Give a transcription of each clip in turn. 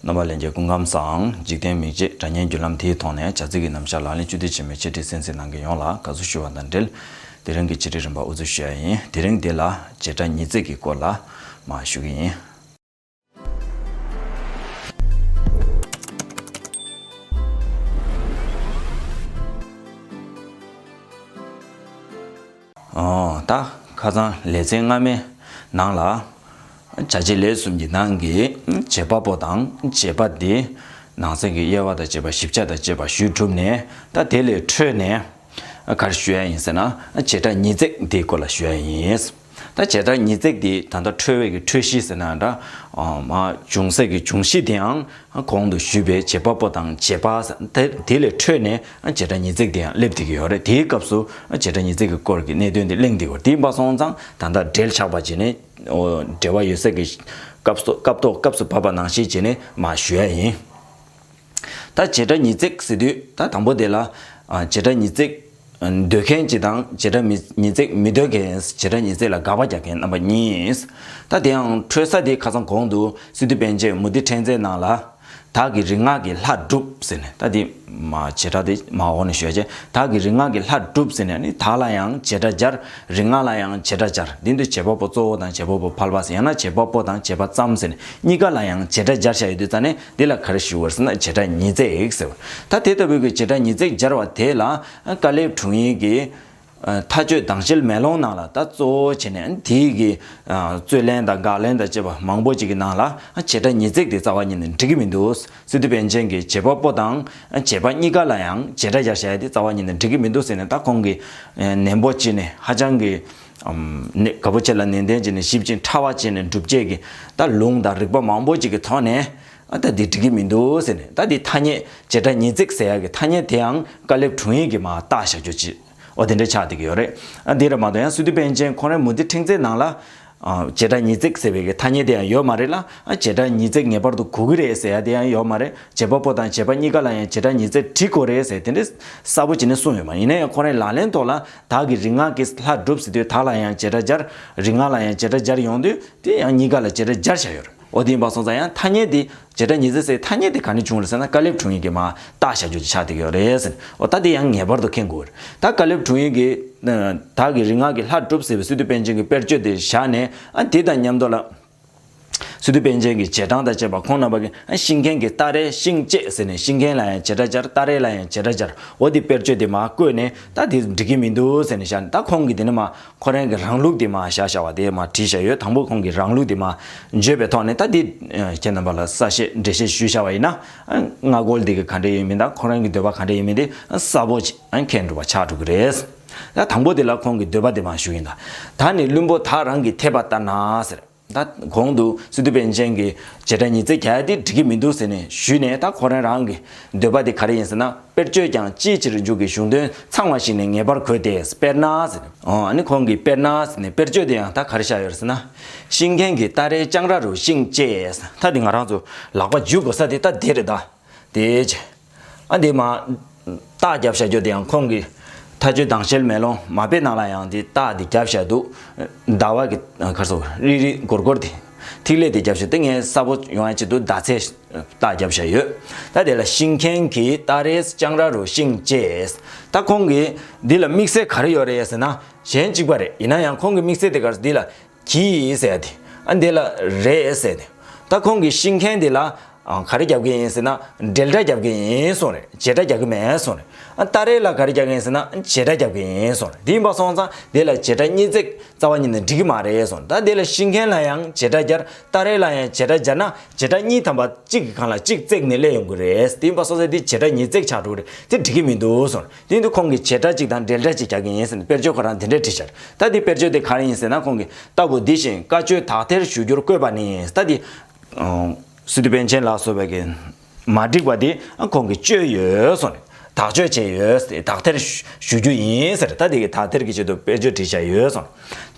རྣམ་པ་ལན་བརྒྱའི་སྐུ་ཁམས་སམ། འཇིག་རྟེན་མིག་འབྱེད་སྒྲ་སྙན་བརྒྱུད་ལམ་དེའི་ཐོག་ནས་བྱ་ཚིག་གི་རྣམ་གཞག་ལག་ལེན་བཅུ་བསྡུས་བྱེད་མི་བྱེད་འདྲི་གསན་གཟིགས་གནང་མཁན་ཡོངས་ལ་དགའ་བསུ་ཞུ་བ་དང་འབྲེལ། དེ་རིང་གི་བྱེད་སྒྲིག་རིམ་པ་ཨུ་ཚུགས་ཞུ་ཡ་ཡིན། དེ་རིང་འདི་ལ་བྱེད་སྒྲ་ཉིས་བརྩེགས་ཀྱི་སྐོར་ལ་མ་ཞུ་གི་ཡིན། ད་ཁ་ཚང་ལེ་ཚན་སྔ་མའི་ནང་ལ། བྱ་བྱེད་ལས་གསུམ་གྱི་ནང་གི་བྱེད་པ་པོ་དང་བྱེད་པ་དེ་ནང་ཚན་གྱི་དབྱེ་བ་དང་བྱེད་པ་ཞིབ་ཆ་དང་བཅས་པ་ཞུས་གྲུབ་ནས་ད་དེ་ལས་འཕྲོས་ནས། གར་ཞུ་ཡ་ཡིན་ཟེར་ན་བྱེ་བྲག་ཉིས་བརྩེགས་དེའི་སྐོར་ལ་ཞུ་ཡ་ཡིན། ད་བྱེ་བྲག་ཉིས་བརྩེགས་དེའི་ད་ལྟ་འཕྲོས་བས་ཀྱི་འཕྲོས་གཞི་ཟེར་ན་འདྲ། འོ་མ་ཅུང་ཟད་ཀྱི་འབྱུང་གཞི་དེའང་གོང་དུ་ཞུས་པའི་བྱེད་པ་པོ་དང་བྱེད་པ་དེ་ལས་འཕྲོས་ནས་བྱེད་སྒྲ་ཉིས་བརྩེགས་དེ་ཡང་སླེབས་བསྡད་ཀྱི་ཡོད་རེད་དེའི་སྐབས་སུ་བྱེད་སྒྲ་ཉིས་བརྩེགས་ཀྱི་སྐོར་གྱི་གནད་དོན་དེ་གླེང་བསྡད་ཡོད་དེ་འབའ་སོང་ཙང་ད་ལྟ་འབྲེལ་ཆགས་པ་བྱས་ནས་འབྲེལ་བ་ཡོད་ཚད་ཀྱི་སྐབས་ཐོག་སྐབས་སུ་བབ་པ་ནང་བཞིན་བྱས་ནས་མ་ཞུ་ཡ་ཡིན། ད་བྱེད་སྒྲ་ཉིས་བརྩེགས་ཟེར་དུས་ད་དང་པོ་དེ་ལ་བྱེད་སྒྲ་ཉིས་བརྩེགས། འདོད་མཁན་གྱི་དང་བྱེ་བྲག་མི་ཉིས་བརྩེགས་མི་འདོད་མཁན་བྱེ་བྲག་ཉིས་བརྩེགས་ལ་དགག་པ་རྒྱག་མཁན་རྣམ་པ་གཉིས། ད་དེའང་འཕྲོས་ས་དེ་ཁ་ཚང་གོང་དུ་སི་ཏུ་པན་ཆེན་མུ་ཏི་ཕྲན་ཚེགས་ནང་ལ། དག་གི་རིག་སྔགས་ཀྱི་ལྷ་སྒྲུབ་ཟེར་ནས་ད་དེ། བྱེ་བྲག་དེ་མ་འོག་ནས་ཤོད་རྗེས་དག་གི་རིག་སྔགས་ཀྱི་ལྷ་སྒྲུབ་ཟེར་ནས་ནི་དག་ལ་ཡང་བྱེ་བྲག་སྦྱར་རིག་སྔགས་ལ་ཡང་བྱེ་བྲག་སྦྱར་དེ་འདུལ་བྱེད་པ་པོ་གཙོ་བོ་དང་བྱེད་པ་པོ་ཕལ་པ་ཡང་ན་བྱེད་པ་པོ་དང་བྱེད་པ་ཙམ་ཟེར་ནས་གཉིས་ཀ་ལ་ཡང་བྱེ་བྲག་སྦྱར་བཞག་ཡོད་དུས་རྩ་ནས་འདི་ལ་གར་ཞུ་བར་ཟེར་ན་བྱེ་བྲག་ཉིས་བརྩེགས་ཟེར། ད་དེ་ལྟ་བུའི་གྱི་བྱེ་བྲག་ཉིས་བརྩེགས་སྦྱར་བ་དེ་ལ་ཀཱ་ལའི་དྲུང་ཡིག་གི། མཐའ་དཔྱོད་དྭངས་ཤེལ་མེ་ལོང་ནང་ལ་ད་གཙོ་བོ་བྱས་ནས་དེ་ཡི་གི། རྩོད་ལན་དང་དགག་ལན་དང་བཅས་པ་མང་པོ་ཅིག་གི་ནང་ལ་བྱེ་བྲག་ཉིས་བརྩེགས་དེ་རྩ་བ་ཉིད་ནས་འགྲིག་གི་མི་འདུག་སི་ཏུ་པཎ་ཆེན་གྱི་བྱེད་པ་པོ་དང་བྱེད་པ་གཉིས་ཀ་ལ་ཡང་བྱེ་བྲག་སྦྱར་བྱ་ཡ་དེ་རྩ་བ་ཉིད་ནས་འགྲིག་གི་མི་འདུག་ཟེར་ནས་ད་ཁོང་གིས་ནན་པོ་བྱས་ནས་ཧ་ཅང་གི། གནད་ག་པོ་ཆེ་ལ་ནན་ཏན་བྱས་ནས་ཞིབ་ཅིང་ཕྲ་བ་བྱས་ནས་འགྲུབ་བྱེད་ཀྱི་ད་ལུང་དང་རིགས་པ་མང་པོ་ཅིག་གི་ཐོག་ནས་ཨ་ད་འདི་འགྲིག་གི་མི་འདུག་ཟེར་ནས་ད་འདི་ཐ་སྙད་བྱེ་བྲག་ཉིས་བརྩེགས་ཟེར་ཡག་གི་ཐ་སྙད་དེའང་དཀའ་ལེབ་དྲུང་ཡིག་གིས་མ་བཏགས་བཞག་རྒྱུ་ཅི་ཨོ་དེ་འདྲའི་ཆགས་སྡིག་གི་ཡོད་རེད་ཨ་འདི་ར་མ་གཏོགས་ཡང་སུད་དུ་པན་ཆེན་ཁོང་རའི་མུ་ཏི་ཕྲེང་རྩེག་ནང་ལ་བྱེ་བྲག་ཉིས་བརྩེགས་ཟེར་བའི་གི་ཐ་སྙད་དེ་ཡང་ཡོད་མ་རེད་ལ་ཨ་བྱེ་བྲག་ཉིས་བརྩེགས་ངེས་པར་དུ་གོ་གི་རེད་ཟེར་ཡག་དེ་ཡང་ཡོད་མ་རེད་བྱེད་པ་པོ་དང་བྱེད་པ་གཉིས་ཀ་ལ་ཡང་བྱེ་བྲག་ཉིས་བརྩེགས་བྲི་དགོས་རེད་ཟེར་དེ་འདྲའི་གསལ་པོ་བྱས་ནས་གསུངས་ཡོད་མ་ཡིན་ན་ཡང་ཁོང་རའི་ལག་ལེན་ཐོག་ལ་དག་གི་རིག་སྔགས་ཀྱིས་ལྷ་བསྒྲུབས་ཟིན་དུས་དག་ལ་ཡང་བྱེ་བྲག་སྦྱར། རིག་སྔགས་ལ་ཡང་བྱེ་བྲག་སྦྱར་ཡོང་དུས་དེ་ཡང་གཉིས་ཀ་ལ་བྱེ་བྲག་སྦྱར་བྱ་ཡོད། ཨོ་དེ་ཡིན་པ་སོང་ཙང་ཡང་ཐ་སྙད་དེ་བྱེ་བྲག་ཉིས་བརྩེགས་སའི་ཐ་སྙད་དེ་ག་ནས་བྱུང་རེད་ཟེར་ན་དཀར་ལེབ་དྲུང་ཡིག་གིས་མ་བཏགས་བྱ་རྒྱུ་ཅིག་ཆགས་བསྡད་ཡོད་རེད། ཨོ་ད་དེ་ཡང་ངེས་པར་དུ་མཁྱེན་དགོས་རེད། ད་དཀར་ལེབ་དྲུང་ཡིག་གིས། དག་གི་རིག་སྔགས་ཀྱིས་ལྷ་བསྒྲུབས་ཟེར་བའི་སི་ཏུ་པཎ་ཆེན་གྱི་དཔེར་བརྗོད་དེ་བཞག་ནས་དེ་དང་མཉམ་དུ་ལ། སི་ཏུ་པཎ་ཆེན་གྱི་བྱེ་བྲང་དང་བཅས་པ་ཁོང་རྣམ་པ་ཀྱིས་ཤིང་མཁན་གྱི་སྟ་རེའི་ཤིང་བཅད་ཟེར་ནས་ཤིང་མཁན་ལ་ཡང་བྱེ་བྲག་སྦྱར་སྟ་རེ་ལ་ཡང་བྱེ་བྲག་སྦྱར་འོ་དེ་དཔེར་བརྗོད་དེ་མ་བཀོད་ནས་སྟ་དེ་འགྲིག་གི་མི་འདུག་ཟེར་ནས་བཞག་ནས་ད་ཁོང་གིས་དེ་ནི་མ་ཁོ་རང་གི་རང་ལུགས་དེ་མ་བཞག་བཞག་བ་དེ་མ་བྲིས་བཞག་ཡོད་དང་པོ་ཁོང་གི་རང་ལུགས་དེ་མ་བརྗོད་པའི་ཐོག་ནས་སྟ་དེ་ཁྱེད་རྣམ་པ་ལ་གསལ་བཤད་འགྲེལ་བཤད་ཞུས་བཞག་བ་ཡིན་ན་སྔ་གོལ་འདི་གི་ག་འདྲ་ཡིན་མིན་དང་ཁོ་རང་གི་འདོད་པ་ག་འདྲ་ཡིན་མིན་དེ་གསལ་པོ་མཁྱེན་འགྲོ་བ་ཆགས་འགྲོ་གི་རེད། ད་དང་པོ་དེ་ལ་ཁོང་གིས་འདོད་པ་དེ་མ་ཞུ་ཡིན་ད། ད་ནི་བླུན་པོ་དག་རང་གི་འཐད་པ་ལྟར་ན་ཟེར། ད་གོང་དུ་སི་ཏུ་པན་ཆེན་གྱི་བྱེད་སྒྲ་ཉི་ཚེ་གལ་ཏེ་འགྲིག་གི་མི་འདུག་ཟེར་ནས་ཞུས་ནས་ད་ཁོ་རང་རང་གི་འདོད་པ་དེ་ག་རེ་ཡིན་ཟེར་ན་དཔེར་བརྗོད་ཀྱང་ཅིའི་ཕྱིར་མཇུག་གི་གཞུང་དོན་ཚང་བ་ཞིག་ནི་ངེས་པར་གོ་སྟེ་དཔེར་ན་ཟེར། ཨོ་ནི་ཁོང་གིས་དཔེར་ན་ཟེར་ནས་དཔེར་བརྗོད་དེ་ཡང་ད་ག་རེ་བཞག་ཡོད་ཟེར་ན། ཤིང་མཁན་གྱི་སྟ་རེའི་ལྕང་ར་རུ་ཤིང་བཅས་ད་དེ་ང་རང་ཚོ་ལག་པ་འཇུས་དགོས་ས་དེ་ད་དེ་རེད་ད། དེའི་ཕྱིར། ཨ་འདི་མ། རྟགས་རྒྱབ་ཤ་རྒྱོ་དེ་ཡང་ཁོང་གི། ཐ་ཆུ་དང་ཤེལ་མེ་ལོང་མ་དཔེ་ནང་ལ་ཡང་དེ་རྟགས་དེ་རྒྱབ་ཤ་འདུག། ཟླ་བ་གི་ཁར་སོ་རིག་རིག་སྒོར་སྒོར་དེ། ཐིག་ལེ་དེ་རྒྱབ་ཤ་དེ་ངའི་གསར་བོ་ཡོང་ཡ་ཅིག་འདུག་ཟླ་ཚེས་རྟགས་རྒྱབ་ཤ་ཡོད། ད་དེ་ལ་ཤིང་མཁན་གྱིས་རྟགས་རེས་སྤྱང་ར་རུ་ཤིང་བཅས། ད་ཁོང་གིས་འདི་ལ་དམིགས་བསལ་ག་རེ་ཡོད་རེད་ཟེར་ན། གཞན་གཅིག་པ་རེད་ཡིན་ན་ཡང་ཁོང་གིས་དམིགས་བསལ་དེ་གར་འདི་ལ་གྱིས་ཟེར་ཏེ། ཨ་འདི་ལ་རེད་ཟེར་ཏེ། ད་ཁོང་གིས་ཤིང་མཁན་དེ་ལ། ག་རེ་རྒྱབ་ཀྱི་ཡིན་ཟེར་ན། འགྲེལ་སྒྲ་རྒྱབ་ཀྱི་ཡིན་གསུངས་རེད། བྱེད་སྒྲ་རྒྱག་གི་མེད་གསུངས་རེད། ཨ་སྟག་རེ་ལ་ག་རེ་རྒྱག་གི་ཡིན་ཟེར་ན། བྱེད་སྒྲ་རྒྱབ་ཀྱི་ཡིན་གསུངས་རེད། དེ་ཡིན་པ་སོང་ཙང་དེ་ལ་བྱེད་སྒྲ་གཉིས་བརྩེགས་རྩ་བ་གཉིས་ནི་འགྲིག་གི་མ་རེད་གསུངས། ད་དེ་ལ་ཤིང་མཁན་ལ་ཡང་བྱེད་སྒྲ་སྦྱར། སྟག་རེ་ལ་ཡང་བྱེད་སྒྲ་སྦྱར་ན། བྱེད་སྒྲ་གཉིས་ཐམ་པ་གཅིག་གི་གང་ལ་གཅིག་བརྩེགས་ནས་སླེབས་ཡོང་གི་རེད། དེ་ཡིན་པ་སོང་ཙང་དེ་བྱེད་སྒྲ་གཉིས་བརྩེགས་ཆགས་འགྲོ་གི་རེད། དེ་འགྲིག་གི་མི་འདུག་གསུངས། དེ་འདི་ཁོང་གིས་བྱེད་སྒྲ་གཅིག་དང་འགྲེལ་སྒྲ་གཅིག་རྒྱག་གི་ཡིན་ཟེར་ནས་དཔེར་བརྗོད་ཁོ་རང་འདི་འདྲས་བྲིས་ཤར། ད་འདི་དཔེར་བརྗོད་དེ་ག་རེ་ཡིན་ཟེར་ན་ཁོང་གིས་ལྟ་བུ་འདི་བཞིན་བཀའ་ཆོས་དག་ཐེར་ཞུ་རྒྱུར་བཀོད་པ་ནི་ཡིན་ད་འདི། སི་ཏུ་པན་ཆེན་ལགས་སུ་བས་ཀྱི་མ་བསྒྲིགས་པ་འདི་ཁོང་གིས་བཅོས་ཡོད་སོང་ནས་དག་བཅོས་བྱས་ཡོད་དེ་དག་ཐེར་ཞུ་རྒྱུ་ཡིན་ཟེར་ད་འདི་གི་དག་ཐེར་གྱི་ཆེད་དུ་དཔེར་བརྗོད་བྲིས་ཤར་ཡོད་སོང།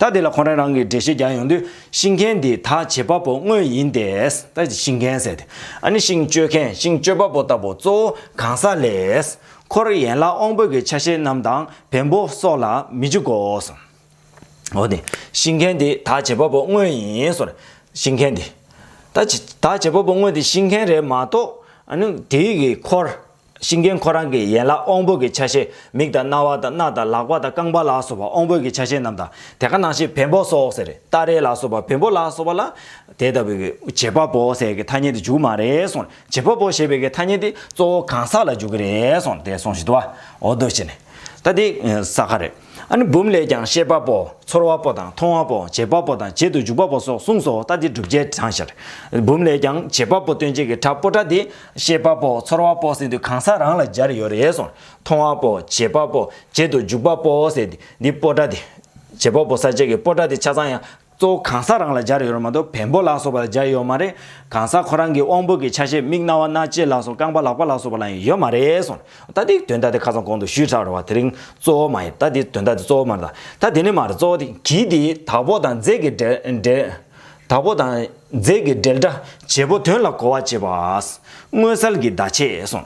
ད་འདི་ལ་ཁོང་རང་རང་གིས་འགྲེལ་བཤད་རྒྱག་ཡོང་དུས་ཤིང་མཁན་འདི་དག་བྱེད་པ་པོ་དངོས་ཡིན་ཏེ། ད་ཤིང་མཁན་ཟེར་དེ་ཨ་ནི་ཤིང་གཅོད་མཁན་ཤིང་གཅོད་པ་པོ་ལྟ་བུ་གཙོ་བོ་གང་ཟག་ལས། འཁོར་ཡན་ལག་དབང་པོ་གྱི་ཆ་ཤས་རྣམས་དང་བེམ་པོ་སོགས་ལ་མི་འཇུག་གོ། འོ་ནི། ཤིང་མཁན་དེ་དག་བྱེད་པ་པོ་དངོས་ཡིན། ཤིང་མཁན་དེ་དག་བྱེད་པ་པོ་དངོས་དེ་ཤིང་མཁན་རེད་མ་གཏོགས། དེ་ཡི་འཁོར། ཤིང་མཁན་ཁོ་རང་གི་ཡན་ལག་དབང་པོ་གྱི་ཆ་ཤས་མིག་དང་རྣ་བ་དང་སྣ་དང་ལག་པ་དང་རྐང་པ་ལ་སོགས་པ་དབང་པོ་གྱི་ཆ་ཤས་རྣམས་དང་དེ་ག་ནང་བཞིན་བེམ་པོ་སོགས་ཟེར། སྟ་རེ་ལ་སོགས་པ་བེམ་པོ་ལ་སོགས་པ་ལ། དེ་ལྟ་བུའི་བྱེད་པ་པོ་ཟེར་གྱི་ཐ་སྙད་དུ་འཇུག་མ་རེད། བྱེད་པོ་པོ་ཞེས་པའི་གི་ཐ་སྙད་དེ་གཙོ་བོ་གང་ཟག་ལ་འཇུག་གི་རེད་གསུངས་དེ་གསུངས་བཞིན་དུ་བའོ་ཟློས་བྱས་ནས། ད་དེ་ཟ་ཁ་རེད། ཨ་ནི་འབུམ་ལས་ཀྱང་ཤེས་པ་པོ་ཚོར་བ་པོ་དང་མཐོང་བ་པོ་བྱེད་པ་པོ་དང་བྱེད་དུ་འཇུག་པ་པོ་སོགས་གསུངས་སོ་ད་དེ་བསྒྲུབ་བྱའི་གྲངས་བཤད། འབུམ་ལས་ཀྱང་བྱེད་པ་པོ་སྟོན་བྱེད་ཀྱི་དྲག་པོ་སྒྲ་དེ་ཤེས་པ་པོ་ཚོར་བ་པོ་ཟེར་དུས་གང་ཟག་རང་ལ་སྦྱར་ཡོད་རེད་གསུངས་མཐོང་བ་པོ་བྱེད་པ་པོ་བྱེད་དུ་འཇུག་པ་པོ་ཟེར་དུས་འདི་པོ་སྒྲ་དེ། བྱེད་པ་པོ་ཟ་བྱེད་ཀྱི་པོ་སྒྲ་དེ་ཆ་ཚང་ཡང་གཙོ་བོ་གང་ཟག་རང་ལ་སྦྱར་ཡོད་རུང་མ་གཏོགས་བེམ་པོ་ལགས་སོགས་པ་ལ་སྦྱར་ཡོད་མ་རེད། གང་ཟག་ཁོ་རང་གི་དབང་པོ་གི་ཆ་ཤས་མིག་རྣ་བ་སྣ་ལྕེ་ལགས་སོགས་རྐང་པ་ལག་པ་ལགས་སོགས་པ་ལ་ཡང་ཡོད་མ་རེད་སོང་ད་འདི་དོན་དག་དེ་ཁ་ཚང་གོང་དུ་ཞུས་ཁྲག་རེད་བ་དེ་རིང་གཙོ་བོ་མ་ཡིན་ད་འདི་དོན་དག་དེ་གཙོ་བོ་མ་རེད་ད་ད་དེ་ནི་མ་རེད་གཙོ་བོ་དེ་གིས་དེ་དག་པོ་དང་རྫས་ཀྱི་འབྲེལ། དག་པོ་དང་རྫས་ཀྱི་འབྲེལ་སྒྲ་བྱེད་པོ་དོན་ལ་གོ་བ་བྱེད་པ། མངོན་གསལ་གྱི་བརྡ་ཆད་སོང།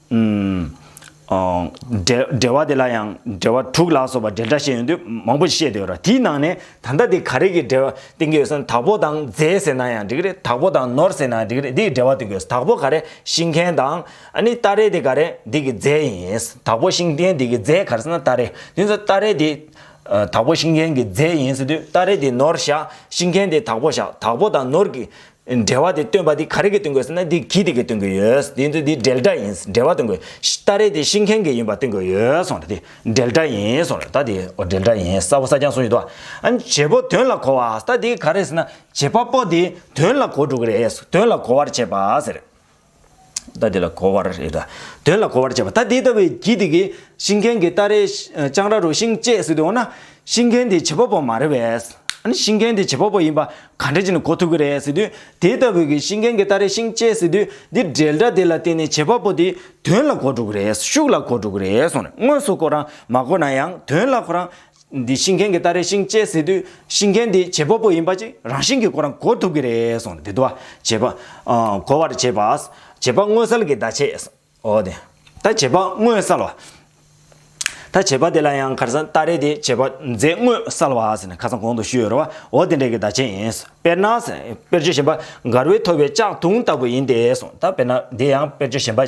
འགྲེལ་བ་དེ་ལ་ཡང་འགྲེལ་བ་དྲུག་ལ་སོགས་པ་འགྲེལ་སྒྲ་ཤེས་ཡོན་དུ་མང་པོ་ཞིག་བཤད་དུ་ཡོད་ར་དེའི་ནང་ནས་ད་ལྟ་དེ་ག་རེ་གི་འགྲེལ་བ་བསྟན་གྱི་ཡོད་ཟེར་ན་དྭགས་པོ་དང་རྫས་ཟེར་ན་ཡང་འགྲིག་རེད་དྭགས་པོ་དང་ནོར་ཟེར་ན་ཡང་འགྲིག་རེད་འདི་ཡི་འགྲེལ་བ་བསྟན་གྱི་ཡོད་དྭགས་པོ་ག་རེ་ཤིང་མཁན་དང་ནི་སྟ་རེ་དེ་ག་རེ་འདི་གི་རྫས་ཡིན་དྭགས་པོ་ཤིང་མཁན་དེ་གི་རྫས་ག་རེ་ཟེར་ན་སྟ་རེ་དེ་ཚོ་སྟ་རེ་དེ་དྭགས་པོ་ཤིང་མཁན་གྱི་རྫས་ཡིན་ཟེར་དུས་སྟ་རེ་དེ་ནོར་བཞག་ཤིང་མཁན་དེ་དྭགས་པོ་བཞག་དྭགས་པོ་དང་ནོར་གྱི་འབྲེལ་བ་དེ་སྟོན་པ་འདི་ག་རེ་གིས་སྟོན་དགོས་ཟེར་ན་འདི་གིས་དེ་གིས་སྟོན་དགོས་ཡོད། དེ་ཚོ་འདི་འབྲེལ་སྒྲ་ཡིན་འབྲེལ་བ་སྟོན་དགོས། སྟ་རེ་དེ་ཤིང་མཁན་གྱི་ཡིན་པ་སྟོན་དགོས་ཡོད་སོང་རེ་དེ་འབྲེལ་སྒྲ་ཡིན་སོང་རེ་ད་དེ་འོ་འབྲེལ་སྒྲ་ཡིན་ས་བོ་ས་རྐྱང་གསུངས་ཡོད་དོ། ཨན་བྱེད་པོ་དོན་ལ་གོ་བ་ཟེར་ན་འདི་ག་རེ་ཟེར་ན་བྱེད་པ་པོ་དེ་དོན་ལ་གོ་འགྲོ་གི་རེད་དོན་ལ་གོ་བར་བྱེད་པ་ཟེར། རྟ་དེ་ལ་གོ་བར་རེ་ར། དོན་ལ་གོ་བར་བྱས་པ། ད་དེ་ལྟ་བུའི་གྱི་དེ་གིས་ཤིང་མཁན་གྱི་རྟ་རེའི་ལྕང་ར་རུ་ཤིང་བཅད་སྲིད་དོ་འོ་ན། ཤིང་མཁན་དེ་བྱེད་པ་པོ་མ་རེད་བས། ཨ་ནི་ཤིང་མཁན་དེ་བྱེད་པ་པོ་ཡིན་པ་ག་འདྲ་བྱས་ནས་གོ་ཐུབ་ཀྱི་རེད་ཟེར་དུས། དེ་ལྟ་བུའི་གྱི་ཤིང་མཁན་གྱི་རྟ་རེའི་ཤིང་བཅད་སྲིད་དུས་འདི་འདྲའི་སྒྲ་དེ་ལ་བརྟེན་ནས་བྱེད་པ་པོ་དེ་དོན་ལ་གོ་འགྲོ་གི་རེད་ཤུགས་ལ་གོ་འགྲོ་གི་རེད་སོང་ནས་དངོས་སུ་གོ་རང་མ་གོ་ན་ཡང་དོན་ལ་གོ་རང། འདི་ཤིང་མཁན་གྱི་སྟ་རེ་ཤིང་བཅད་ཟེར་དུས་ཤིང་མཁན་དེ་བྱེད་པ་པོ་ཡིན་པ་ཅིག་རང་ཤིང་གི་ཁོ་རང་གོ་ཐུབ་ཀྱི་རེད་གསུངས་ནས་དེ་དུ་བ་བྱེད་པ། གོ་བར་བྱེད་པ། བྱེད་པ་དངོས་གསལ་གྱི་བརྡ་བྱས། འོ་དེ། ད་བྱེད་པ་དངོས་གསལ་བ། ད་བྱེད་པ་དེ་ལ་ཡང་ཁར་སང་སྟ་རེ་དེ་བྱེད་པ་རྫས་དངོས་གསལ་བ་ཟེར་ནས་ཁ་སང་གོང་དུ་ཞུས་ཡོད་རེད་བ། འོ་དེ་འདྲའི་གི་བརྡ་བྱས་ཡིན། དཔེར་ན། དཔེར་བརྗོད་གཞན་པ། མགར་བའི་ཐོ་བའི་ལྕགས་དུང་ལྟ་བུ་ཡིན་ཏེ་གསུངས། ད་དཔེར་ན་འདི་ཡང་དཔེར་བརྗོད་གཞན་པ།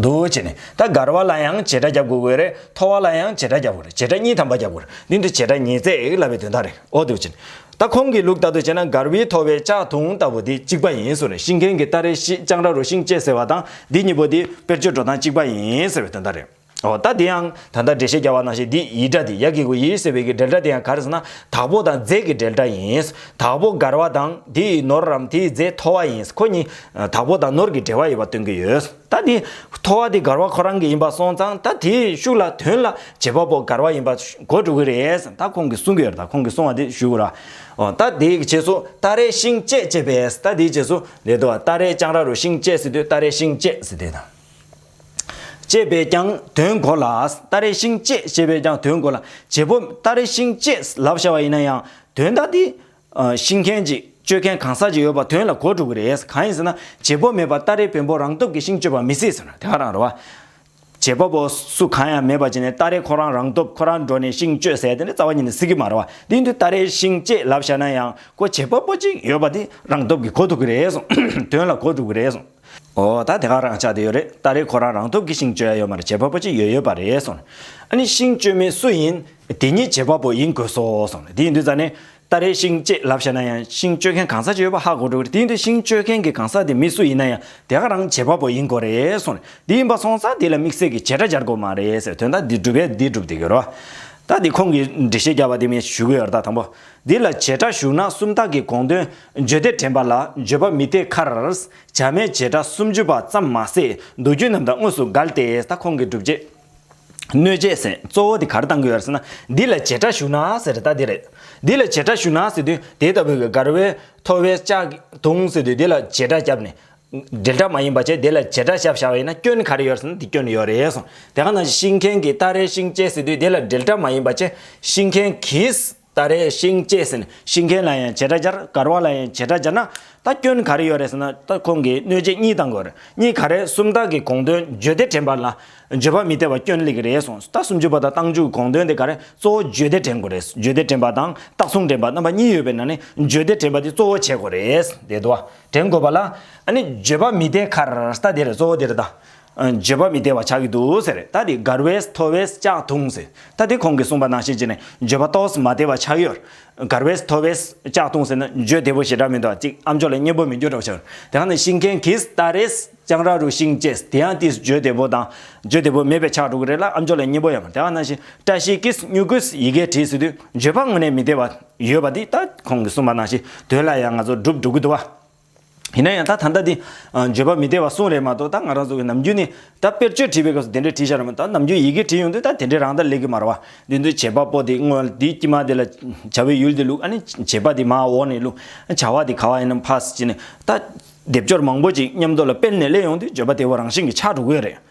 འདུག་བྱས་ནས་ད་གར་བ་ལ་ཡང་བྱེད་སྒྲ་རྒྱབ་དགོས་གི་རེད་མཐོ་བ་ལ་ཡང་བྱེད་སྒྲ་རྒྱབ་དགོས་རེད་བྱེད་སྒྲ་གཉིས་དམ་པ་རྒྱབ་དགོས་རེད་འདི་འདྲ་བྱེད་སྒྲ་ཉིས་བརྩེགས་ལབ་པའི་དོན་དག་རེད་ཨོ་འདུག་བྱས་ནས་ད་ཁོང་གི་ལུགས་ལྟར་དུ་བྱས་ན་གར་བའི་མཐོ་བའི་ལྕགས་ཐུང་ལྟ་བུ་འདི་གཅིག་པ་ཡིན་ཟེར་བ་རེད་ཤིང་མཁན་གྱི་སྟ་རེ་ཞིག་ལྕགས་འདྲ་རུ་ཤིང་བཅད་ཟེར་བ་དང་འདི་གཉིས་པོ་འདི་དཔེར་བརྗོད་འགྲོ་སྟངས་གཅིག་པ་ཡིན་ཟེར་བའི་དོན་དག་རེད་ཨོ་ད་འདི་ཡང་ད་ལྟ་འགྲེལ་བཤད་རྒྱག་བ་ནང་བཞིན་འདི་ཡི་སྒྲ་འདི་ཡ་གི་གུ་ཡི་ཟེར་བའི་གི་འགྲེལ་སྒྲ་འདི་ཡང་གར་ཟེར་ན་དྭགས་པོ་དང་རྫས་ཀྱི་འགྲེལ་སྒྲ་ཡིན་དྭགས་པོ་གར་བ་དང་དེ་ཡི་ནོར་རམ་དེ་ཡི་རྫས་མཐོ་བ་ཡིན་ཁོ་གཉིས་དྭགས་པོ་དང་ནོར་གྱི་འབྲེལ་བ་ཡོད་པ་སྟོན་གྱི་ཡོད། ད་དེ། ཐོ་བ་དེ་མགར་བ་ཁོ་རང་གི་ཡིན་པ་སོང་ཙང་ད་དེའི་ཤུགས་ལ་དོན་ལ་བྱེད་པ་པོ་མགར་བ་ཡིན་པ་གོ་འགྲོ་གི་རེད་ད་ཁོང་གིས་གསུང་གི་ཡོད་ད་ཁོང་གིས་གསུང་བ་དེ་ཞུ་གི་རོགས། ད་དེའི་རྗེས་སུ་ཏཱ་རའི་ཤིང་བཅད་བཅད་པས་ད་དེའི་རྗེས་སུ། རེད་དོ། ཏཱ་རའི་ལྕང་ར་རུ་ཤིང་བཅད་ཟེར་དུས་ཏཱ་རའི་ཤིང་བཅད་ཟེར་དེ་དང། བཅད་པས་ཀྱང་དོན་གོ་ལ། ཏཱ་རའི་ཤིང་བཅད་བཅད་པས་ཀྱང་དོན་གོ་ལ། བྱེད་པོ་ཏཱ་རའི་ཤིང་བཅད་ལབ་བཞག་པ་ཡིན་ན་ཡང་དོན་ད་དེ། ཤི་མཁན་གྱིས་སྤྱོད་མཁན་གང་ཟག་ཅིག་ཡོད་པ་དོན་ལ་གོ་འགྲོ་གི་རེད། གང་ཡིན་ཟེར་ན་བྱེད་པོ་མེད་པར་སྟ་རེའི་བེམ་པོ་རང་སྟོབས་ཀྱིས་ཤིང་གཅོད་པ་མི་སྲིད་ཟེར་ན་དེ་ག་རང་རེད་བ། བྱེད་པ་པོ་སུ་གང་ཡང་མེད་པར་བྱས་ནས་སྟ་རེ་ཁོ་རང་རང་སྟོབས་ཁོ་རང་འགྲོ་ནས་ཤིང་གཅོད་ཟེར་དེ་འདྲ་རྩ་བ་ཉིད་ནས་སྲིད་ཀྱི་མ་རེད་བ། དེ་འདུལ་སྟ་རེའི་ཤིང་གཅེས་ལབ་བཞག་ན་ཡང་ཁོ་བྱེད་པ་པོ་ཅིག་ཡོད་པ་དེ་རང་སྟོབས་ཀྱིས་གོ་ཐུབ་གི་རེད་གསུངས། དོན་ལ་གོ་འགྲོ་གི་རེད་གསུངས། ཨོ་ད་དེ་ག་རང་ཆགས་བསྡད་ཡོད་རེད་སྟ་རེ་ཁོ་རང་རང་སྟོབས་ཀྱིས་ཤིང་གཅོད་ཡ་ཡོད་མ་རེད་བྱེད་པ་པོ་ཅིག་ཡོད་ཡོད་པ་རེད་གསུངས། ཨ་ནི་ཤིང་གཅོད་མི་སུ་ཡིན། དེ་ཉིད་བྱེད་པ་པོ་ཡིན་དགོས་སོ་གསུངས་ལ་དེ་ཡིན་དུས་ཙཱ་ནས། ཏཱ་རེའི་ཤིང་ཅེས་ལབ་བཤད་ན་ཡང་ཤིང་གཅོད་མཁན་གང་ཟག་ཅིག་ཡོད་པ་ཧ་གོ་འགྲོ་གི་རེད་དེ་ཡིན་དུས་ཤིང་གཅོད་མཁན་གྱི་གང་ཟག་དེ་མི་སུ་ཡིན་ན་ཡང་དེ་ག་རང་བྱེད་པ་པོ་ཡིན་དགོས་རེད་གསུངས་ལ་དེ་ཡིན་པ་སོང་ཙང་དེ་ལ་དམིགས་བསལ་གྱི་བྱེད་སྒྲ་སྦྱར་དགོས་མ་རེད་ཟེར་དོན་དག་འདི་སྒྲུབ་པས་འདི་སྒྲུབ་དེ་གྱུར། ད་དེ་ཁོང་གིས་འགྲེལ་བཤད་རྒྱག་པ་དེ་མིན་ཞུ་གི་ཡོད་རེད་ད་དང་པོ། འདི་ལ་བྱེད་སྒྲ་ཞུགས་ན་སུམ་རྟགས་ཀྱི་དགོངས་དོན་བརྗོད་བདེ་དྲན་པ་ལ་བརྗོད་པ་མི་བདེ་ཁར། བྱ་མའི་བྱེད་སྒྲ་སུམ་ཅུ་པ་ཙམ་མ་ཟད་མདོ་རྒྱུད་རྣམས་དང་དངོས་སུ་འགལ་ཏེ་ད་ཁོང་གིས་སྒྲུབ་བྱེད། གནོད་བྱེད་ཟེར་གཙོ་བོ་དེ་གར་བཏང་དགོས་ཟེར་ན་འདི་ལ་བྱེད་སྒྲ་ཞུ་ན་ཟེར་ད་དེ་རེད། འདི་ལ་བྱེད་སྒྲ་ཞུ་ན་ཟེར་དུས་དེ་ལྟ་བུའི་གར་བའི་ཐོ་བས་ལྕགས་དུང་ཟེར་དུས་དེ་ལ་བྱེད་སྒྲ་བརྒྱབ་ནས། འབྲེལ་སྒྲ་མ་ཡིན་པ་བྱས་དེ་ལ་བྱེད་སྒྲ་བཞག་བཞག་བས་ན་སྐྱོན་ག་རེ་ཡོད་ཟེར་ན་དེ་སྐྱོན་ཡོད་རེད་གསུངས་དེ་ག་ནང་བཞིན་ཤིང་མཁན་གྱིས་སྟ་རེ་ཤིང་བཅད་ཟེར་དུས་དེ་ལ་འབྲེལ་སྒྲ་མ་ཡིན་པ་བྱས་ཤིང་མཁན་གྱིས། ད་རེས་ཤིང་བཅད་ཟིན་ཤིང་མཁན་ལ་ཡང་བྱེད་སྒྲ་སྦྱར་གར་བ་ལ་ཡང་བྱེད་སྒྲ་སྦྱར་ན་ད་སྐྱོན་ག་རེ་ཡོད་རེད་ཟེར་ན་ད་ཁོང་གིས་གནོད་བྱེད་གཉིས་དང་དགོས་གཉིས་ག་རེ་སུམ་རྟགས་ཀྱི་དགོངས་དོན་བརྗོད་བདེ་དྲན་པ་ལ་བརྗོད་པ་མི་བདེ་བ་སྐྱོན་ལེགས་རེད་གསུངས་ད་སུམ་ཅུ་པ་དང་བཏང་ཆུ་དགོངས་དོན་དེ་ག་རེ་གཙོ་བོ་བརྗོད་བདེ་དྲན་དགོས་རེད་བརྗོད་བདེ་དྲན་པ་དང་རྟགས་མཚུངས་དྲན་པ་རྣམ་པ་གཉིས་ཡོད་པའི་ནང་ནས་བརྗོད་བདེ་དྲན་པ་དེ་གཙོ་བོ་བྱེད་དགོས་རེད་བདེ་དོ་དྲན་དགོས་པ་ལ་ཨ་ནི་བརྗོད་པ་མི་བདེ་གར་ད་དེ་རེད་གཙོ་བོ་དེ་རེད་ད་བརྗོད་པ་མི་བདེ་བ་ཆགས་ཀྱི་འདུག་ཟེར། ད་དེ་དགར་བས་མཐོ་བས་ལྕགས་འཐུང་ཟེར། ད་དེ་ཁོང་གིས་གསུངས་པ་ནང་བཤད་ཅིག་ནས་བརྗོད་པ་གཏོགས་མ་བདེ་བ་ཆགས་ཡོད། དགར་བས་མཐོ་བས་ལྕགས་འཐུང་ཟེར་ན་བརྗོད་བདེ་པོ་ཞེ་དྲག་མི་འདུག་གཅིག་ཨམ་ཅོག་ལ་མཉེན་པོ་མི་འགྱུར་རོགས་བྱོས། དེ་ག་ནས་ཤིང་མཁན་གིས་ལྟ་རེས་སྤྱང་ར་རུ་ཤིང་བཅས་དེ་ཡང་དེས་བརྗོད་བདེ་པོ་དང་བརྗོད་བདེ་པོ་མེད་པའི་ཆགས་འགྲོ་གི་རེད་ལ་ཨམ་ཅོག་ལ་མཉེན་པོ་ཡང་མེད་དེ་ག་ནང་བཞིན་བཀྲ་ཤིས་ཀིས་སྨྱུ་གུས་ཡི་གེ་བྲིས་ཟིན་དུས་བརྗོད་པ་དངོས་གནས་མི་བདེ་བ་ཡོད་པ་འདི་ད་ཁོང་གིས་གསུངས་པ་ནང་བཞིན་དོན་ལ་ཡང་ང་ཚོ་སྒྲུབ་འགྲོ་གི་འདུག་བ། ཡིན་ན་ཡང་ད་ད་ལྟ་འདི། བརྗོད་པ་མི་བདེ་བ་གསུངས་རེད་མ་གཏོགས་ད་ང་རང་ཚོ་གི་ནམ་རྒྱུན་ནི། ད་དཔེར་བརྗོད་བྲིས་པའི་སྐབས་སུ་དེ་འདྲས་བྲིས་ཤག་རེད་མ་གཏོགས་ད་ནམ་རྒྱུན་ཡི་གེ་བྲིས་ཡོང་དུས་ད་དེ་འདྲས་རང་ད་ལེགས་ཀི་མ་རེད་བ། དེ་འདུལ་བྱེད་པ་པོ་དེ་སྔོན་ལ་དེའི་དཀྱིལ་མ་དེ་ལ། བྱ་བའི་ཡུལ་དེ་ལུགས་ཨ་ནི། བྱེད་པ་དེ་མ་འོག་ནས་ལུགས། བྱ་བ་དེ་ག་བ་ཡིན་ནམ་ཕ་སི་ཅི་ནས། ད། སྡེབ་སྦྱོར་མང་པོ་ཅིག་མཉམ་དུ་ལ་སྤེལ་ནས་གླས་ཡོང་དུས་བརྗོད་པ་དེ་བ་རང་བཞིན་གྱིས་ཆགས་འགྲོ་དགོས་རེད།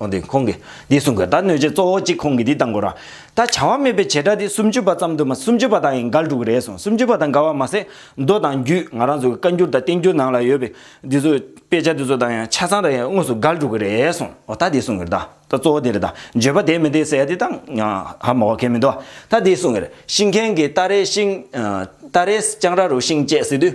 འོན་ཏེ་ཁོང་གིས་འདི་གསུངས་དགོས་ད་གནོད་བྱེད་གཙོ་བོ་གཅིག་ཁོང་གིས་འདི་བཏང་དགོས་ར་ད་བྱ་བ་མེད་པའི་བྱེད་སྒྲ་འདི་སུམ་ཅུ་པ་ཙམ་དུ་མ་སུམ་ཅུ་པ་དག་ཡིན་འགལ་འགྲོ་གི་རེད་གསུངས་སུམ་ཅུ་པ་དང་འགལ་བ་མ་ཟད་མདོ་དང་རྒྱུད་ང་རང་ཚོ་གི་བཀའ་འགྱུར་དང་བསྟན་འགྱུར་ནང་ལ་ཡོད་པའི་འདི་ཚོ་དཔེ་ཆ་འདི་ཚོ་དང་ཡང་ཆ་ཚང་དང་ཡང་དངོས་སུ་འགལ་འགྲོ་གི་རེད་གསུངས་འོ་ད་འདི་གསུངས་གི་རེད་ད་ད་གཙོ་བོ་འདི་རེད་ད་བརྗོད་པ་དེ་མི་འདི་ཟེར་ཡ་འདི་ད་ཧ་མ་གོ་གལ་མི་འདུག་ད་འདི་གསུངས་གི་རེད་ཤིང་མཁན་གྱིས་རྟ་རའི་ཤིང་རྟ་རའི་རྐྱང་ར་རུ་ཤིང་བཅད་ཟེར་དུས།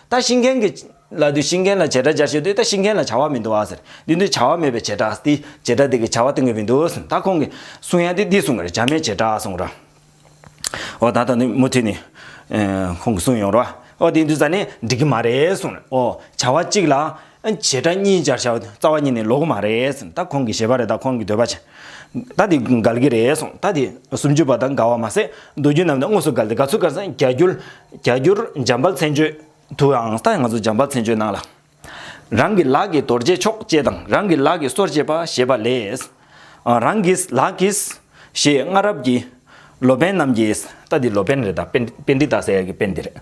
ད་ཤི་མཁན་གྱི། ལ་དུས་ཤི་མཁན་ལ་བྱེ་བྲག་སྦྱར་ཞེས་དུས་ད་ཤི་མཁན་ལ་བྱ་བ་མི་འདུག་ཨ་ཟེར། དུས་འདི་བྱ་བ་མེད་པའི་བྱེ་བྲག་སྟེ། བྱེ་བྲག་དེ་གི་བྱ་བ་སྟོན་གྱི་མི་འདུག་ཟེར། ད་ཁོང་གི། གསུང་ཡ་དེ་འདི་གསུང་གི་རེད་བྱ་མའི་བྱེ་བྲག་གསུང་ར། ཨོ་ད་ད་ནི་མུ་མཐུད་ནི། ཁོང་གི་གསུང་ཡོང་ར། ཨོ་དེ་འདུག་ས་ནི་འགྲིག་གི་མ་རེད་གསུང་ར། ཨོ། བྱ་བ་གཅིག་ལ། བྱེ་བྲག་གཉིས་སྦྱར་བྱའོ། རྩ་བ་གཉིས་ནི་ལོགས་མ་རེད། ད་ཁོང་གི་ཞེས་པ་རེད་ད་ཁོང་གི་འདོད་པ་བྱེད། ད་དེ་འགལ་གྱི་རེད་གསུངས། ད་དེ་སུམ་ཅུ་པ་དང་འགལ་བ་མ་ཟད་མདོ་རྒྱུད་རྣམས་དང་དངོས་སུ་འགལ་ཏེ་འགལ་ཚུལ་བཀར་ཟིན་རྒྱ་རྒྱུད། རྒྱ་རྒྱུད་འཇམ་དཔལ་མཚན་བརྗོད་དུའང་ད་ང་ཚོ་འཇམ་དཔལ་མཚན་བརྗོད་ནང་ལ། རང་གི་ལག་གིས་རྡོར་བཅད་ཆོག་བཅད་དང་རང་གི་ལག་གིས་སོར་བཅད་པ་ཞེས་པ་ལས། རང་གིས་ལག་གིས། ཞེས་སྔ་རབས་ཀྱི་ལོ་པན་རྣམས་ཀྱིས། ད་དེ་ལོ་པན་རེད་ད་དཔེ་འདི་ད་ཟེར་ཡག་གི་དཔེ་འདི་རེད།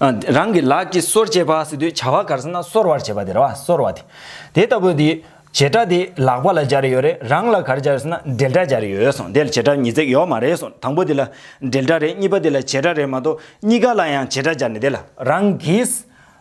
རང་གི་ལག་གིས་གསོར་བྱེད་པ་སི་དུས་བྱ་བ་གར་ས་ན་གསོར་བར་བྱེད་པ་དེར་བ་གསོར་བ་དེ། དེ་ལྟ་བུ་དེ། བྱེད་སྒྲ་དེ་ལག་པ་ལ་སྦྱར་ཡོད་རེད་རང་ལ་གར་སྦྱར་ས་ན་འབྲེལ་སྒྲ་སྦྱར་ཡོད་སོང་དེ་ལ་བྱེད་སྒྲ་ཉིས་བརྩེགས་ཡོག་མ་རེད་སོང་དང་པོ་དེ་ལ་འབྲེལ་སྒྲ་རེད་གཉིས་པ་དེ་ལ་བྱེད་སྒྲ་རེད་མ་གཏོགས་གཉིས་ཀ་ལ་ཡང་བྱེད་སྒྲ་སྦྱར་ནས་དེ་ལ། རང་གིས་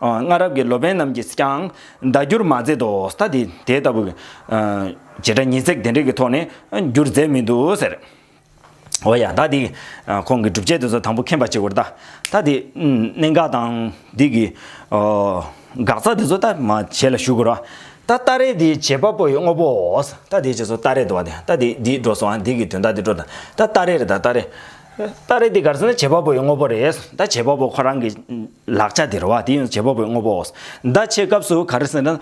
སྔ་རབས་ཀྱི་ལོ་པན་རྣམས་ཀྱིས་ཀྱང་བརྡ་བསྒྱུར་མ་མཛད་དོ། ད་དེ་དེ་ལྟ་བུ། བྱེ་བྲག་ཉིས་བརྩེགས་དེ་འདྲའི་གི་ཐོག་ནས་བསྒྱུར་མཛད་མི་འདུག་ཟེར། འོ་ཡ། ད་དེ་ཁོང་གི་སྒྲུབ་བྱེད་དེ་ཚོ་དང་པོ་མཁྱེན་པ་ཅིག་བོར་ད། ད་དེ་གནད་འགག་དང་འདི་གི། འགག་རྩ་དེ་ཚོ་ད་མ་བྱས་ལ་ཞུ་དགོས་རོགས། ད་ཏཱ་རེ་དེ་བྱེད་པ་པོ་ཡི་དངོས་པོའོ། ད་དེ་བྱས་སོ་ཏཱ་རེ་དུ་བ་དེ། ད་དེ་འདི་འགྲོ་སོང་འདི་གི་དོན་དག་འདི་འགྲོ་ད། ད་ཏཱ་རེ་རེ་ད་ཏཱ་རེ། ཏཱ་རེ་དེ་ག་རེ་ཟེར་ན་བྱེད་པ་པོ་ཡི་དངོས་པོ་རེད། ད་བྱེད་པ་པོ་ཁོ་རང་གི། ལག་ཆ་དེར་བ་དེ་ཡང་བྱེད་པ་པོའི་དངོས་པོའོ། བརྡ་ཆད་སྐབས་སུ་ག་རེ་ཟེར་ན། ལྟ།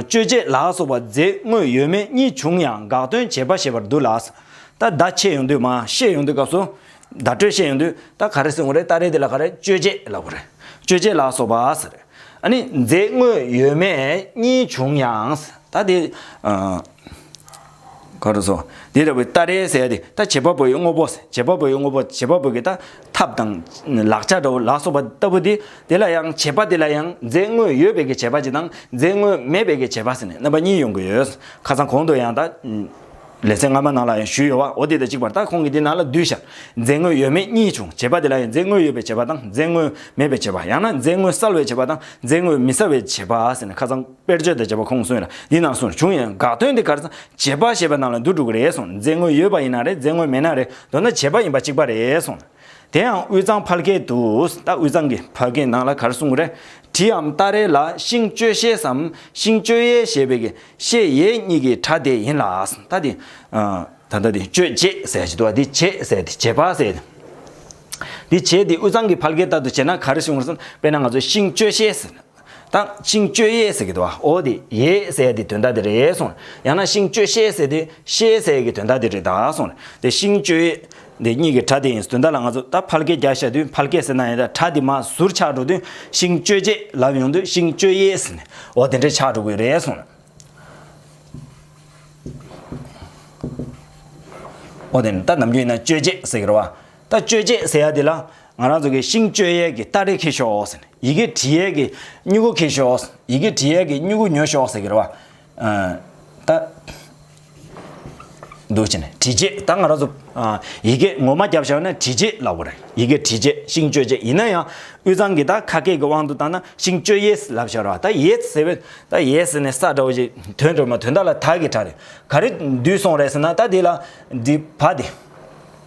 སྤྱོད་བྱེད་ལ་སོགས་པ་རྫས་དངོས་ཡོད་མེད་གཉིས་བྱུང་ཡང་དགག་དོན་བྱེད་པ་ཞེས་པར་འདུ་ལ། ད་བརྡ་ཆད་ཡོང་དུས་མ་ཤེས་ཡོང་དུས་སྐབས་སུ། བརྡ་སྤྲོད་ཤེས་ཡོང་དུས་ད་ག་རེ་ཟེར་ངོ་རེ་ད་རེ་དེ་ལ་ག་རེ་སྤྱོད་བྱེད་ལ་གོ་རེ། སྤྱོད་བྱེད་ལ་སོགས་པ་ཟེར། ཨ་ནི་རྫས་དངོས་ཡོད་མེད་གཉིས་བྱུང་ཡང། ད་དེ། གང་རུང་སོ། དེ་ལྟ་བུའི་ཏཱ་རེའི་ཟས་དེ་ལྟ་བྱེད་པ་པོ་ཡི་དངོས་པོ། བྱེད་པ་པོ་ཡི་དངོས་པོ་བྱེད་པ་པོ་གི་ལྟ་ཐབས་དང། ལག་ཆ་འདྲ་བོ་ལ་སོགས་པ་ལྟ་བུ་དེ་དེ་ལ་ཡང་བྱེད་པ་དེ་ལ་ཡང་རྫས་དངོས་ཡོད་པའི་གི་བྱེད་པ་གཅིག་དང་རྫས་དངོས་མེད་པའི་གི་བྱེད་པ་ཟེར་ནས་རྣམ་པ་གཉིས་ཡོང་གི་ཡོད། ཁ་སང་གོང་དུ་ཡང་ཏཱ། ལས་ཚན་སྔ་མ་ནང་ལ་ཡང་ཞུས་ཡོད་བ་འོ་དེ་དང་གཅིག་པར་ལྟ་ཁོང་གིས་དེ་ནང་ལ་བསྡུས་ཤར། རྫས་དངོས་ཡོད་མེད་གཉིས་བྱུང་བྱེད་པ་དེ་ལ་ཡང་རྫས་དངོས་ཡོད་པའི་བྱེད་པ་དང་རྫས་དངོས་མེད་པའི་བྱེད་པ་ཡང་ན་རྫས་དངོས་གསལ་བའི་བྱེད་པ་དང་རྫས་དངོས་མི་གསལ་བའི་བྱེད་པ་ཟེར་ནས་ཁ་སང། དཔེར་བརྗོད་དང་བཅས་པ་ཁོང་གསུངས་ལ་འདི་ནང་གསུངས་བྱུང་ཡང་དགག་དོན་དེ་གར་ཚང་བྱེད་པ་ཞེས་པ་ནང་ལ་འདུག་འགྲོ་གི་རེད་གསུངས་རྫས་དངོས་ཡོད་པ་ཡིན་ན་རེད་རྫས་དངོས་མེད་ན་རེད་མདོར་ན་བྱེད་པ་ཡིན་པ་གཅིག་པ་རེད་གསུངས་ལ། དེ་ཡང་དབུས་གཙང་ཕ་སྐད་དུ་ད་དབུས་གཙང་གི་ཕ་སྐད་ནང་ལ་གར་གསུངས་རེད་དྲི་འམ་ལྟ་རེད་ལ་ཤིང་གཅོད་ཤེས་སམ་ཤིང་གཅོད་ཡས་ཞེས་པའི་གི་ཤེས་ཡས་གཉིས་ཀྱི་གྲ་དེ་ཡིན་ལ་ད་ལྟ་དེ་ད་ལྟ་དེ་གཅོད་ཅེས་ཟེར་བཞིན་འདུག་འདི་བྱེད་ཟེར་དེ་བྱེད་པ་ཟེར་དེ། འདི་བྱེད་དེ་དབུས་གཙང་གི་ཕ་སྐད་ལྟར་དུ་བྱེད་ན་གར་གསུངས་སམ་དཔེར་ན་ང་ཚོ་ཤིང་གཅོད་ཤེས་ཟེར། དང། ཤིང་གཅོད་ཡས་ཟེར་གྱི་དོ་ཨོ་དེ་ཡས་ཟེར་ཡས་དེ་དོན་དག་དེ་རེད་གསུངས་རེད། ཡང་ན་ཤིང་གཅོད་ཤས་ཟེར་དེ་ཤས་ཟེར་ཡས་ཀྱི་དོན་དག་དེ་རེད་ད་གསུངས་རེད། དེ་ཤིང་གཅོད་ཡས་དེ་གཉིས་ཀྱི་གྲ་དེ་ཡིན་དོན་དག་ལ་ང་ཚོ་ད་ཕལ་སྐད་རྒྱག་ཤར་དུས་ཕལ་སྐད་ཟེར་ན་ཡང་གྲ་དེ་མ་ཟུར་ཆགས་འགྲོ་དུས་ཤིང་གཅོད་རྗེས་ལབ་ཡོང་དུས་ཤིང་གཅོད་ཡས་ཟེར་ནས་ཨོ་དེ་འདྲས་ཆགས་འགྲོ་གི་རེད་གསུངས་རེད། ཨོ་དེ་ནི་ད་ནམ་རྒྱུན་ཡིན་ན་གཅོད་རྗེས་ཟེར་གྱི་རེད་བ། ལྟ་སྤྱོད་ཅེས་ཟེར་ཡ་དེ་ལ། ང་རང་ཚོ་གིས་ཤིང་སྤྱོད་ཡས་ཀྱི་སྟ་རེ་འཁེལ་ཞོག། ཡི་གེ་བྲིས་ཡས་ཀྱི་སྨྱུ་གུ་འཁེལ་ཞོག། ཡི་གེ་བྲིས་ཡས་ཀྱི་སྨྱུ་གུ་ཉོ་ཞོག་ཟེར་གྱི་རེད་བ། ད། འདུག་བྱས་ནས་བྲིས་རྗེས་ད་ང་རང་ཚོ། ཡི་གེ་ངོ་མ་བརྒྱབ་བཞག་ན་བྲིས་རྗེས་ལ་བོར། ཡི་གེ་བྲིས་རྗེས་ཤིང་སྤྱོད་རྗེས་ཡིན་ན་ཡང། དབུས་གཙང་གིས་ད་ཁ་སྐད་ཀྱི་དབང་དུ་བཏང་ན་ཤིང་སྤྱོད་ཡས་ལབ་བཞག་རེད་བ། ད་ཡས་ཟེར་བས་ད་ཡས་ཟེར་ནས་ས་འདྲ་བོ་ཞིག་དོན་གྲུབ་མ་དོན་དག་ལ་དག་གི་གྲགས་རེད། ག་རེ་འདུས་སོང་རེད་ཟེར་ན་ད་དེ་ལ། འདི་བ་དེ།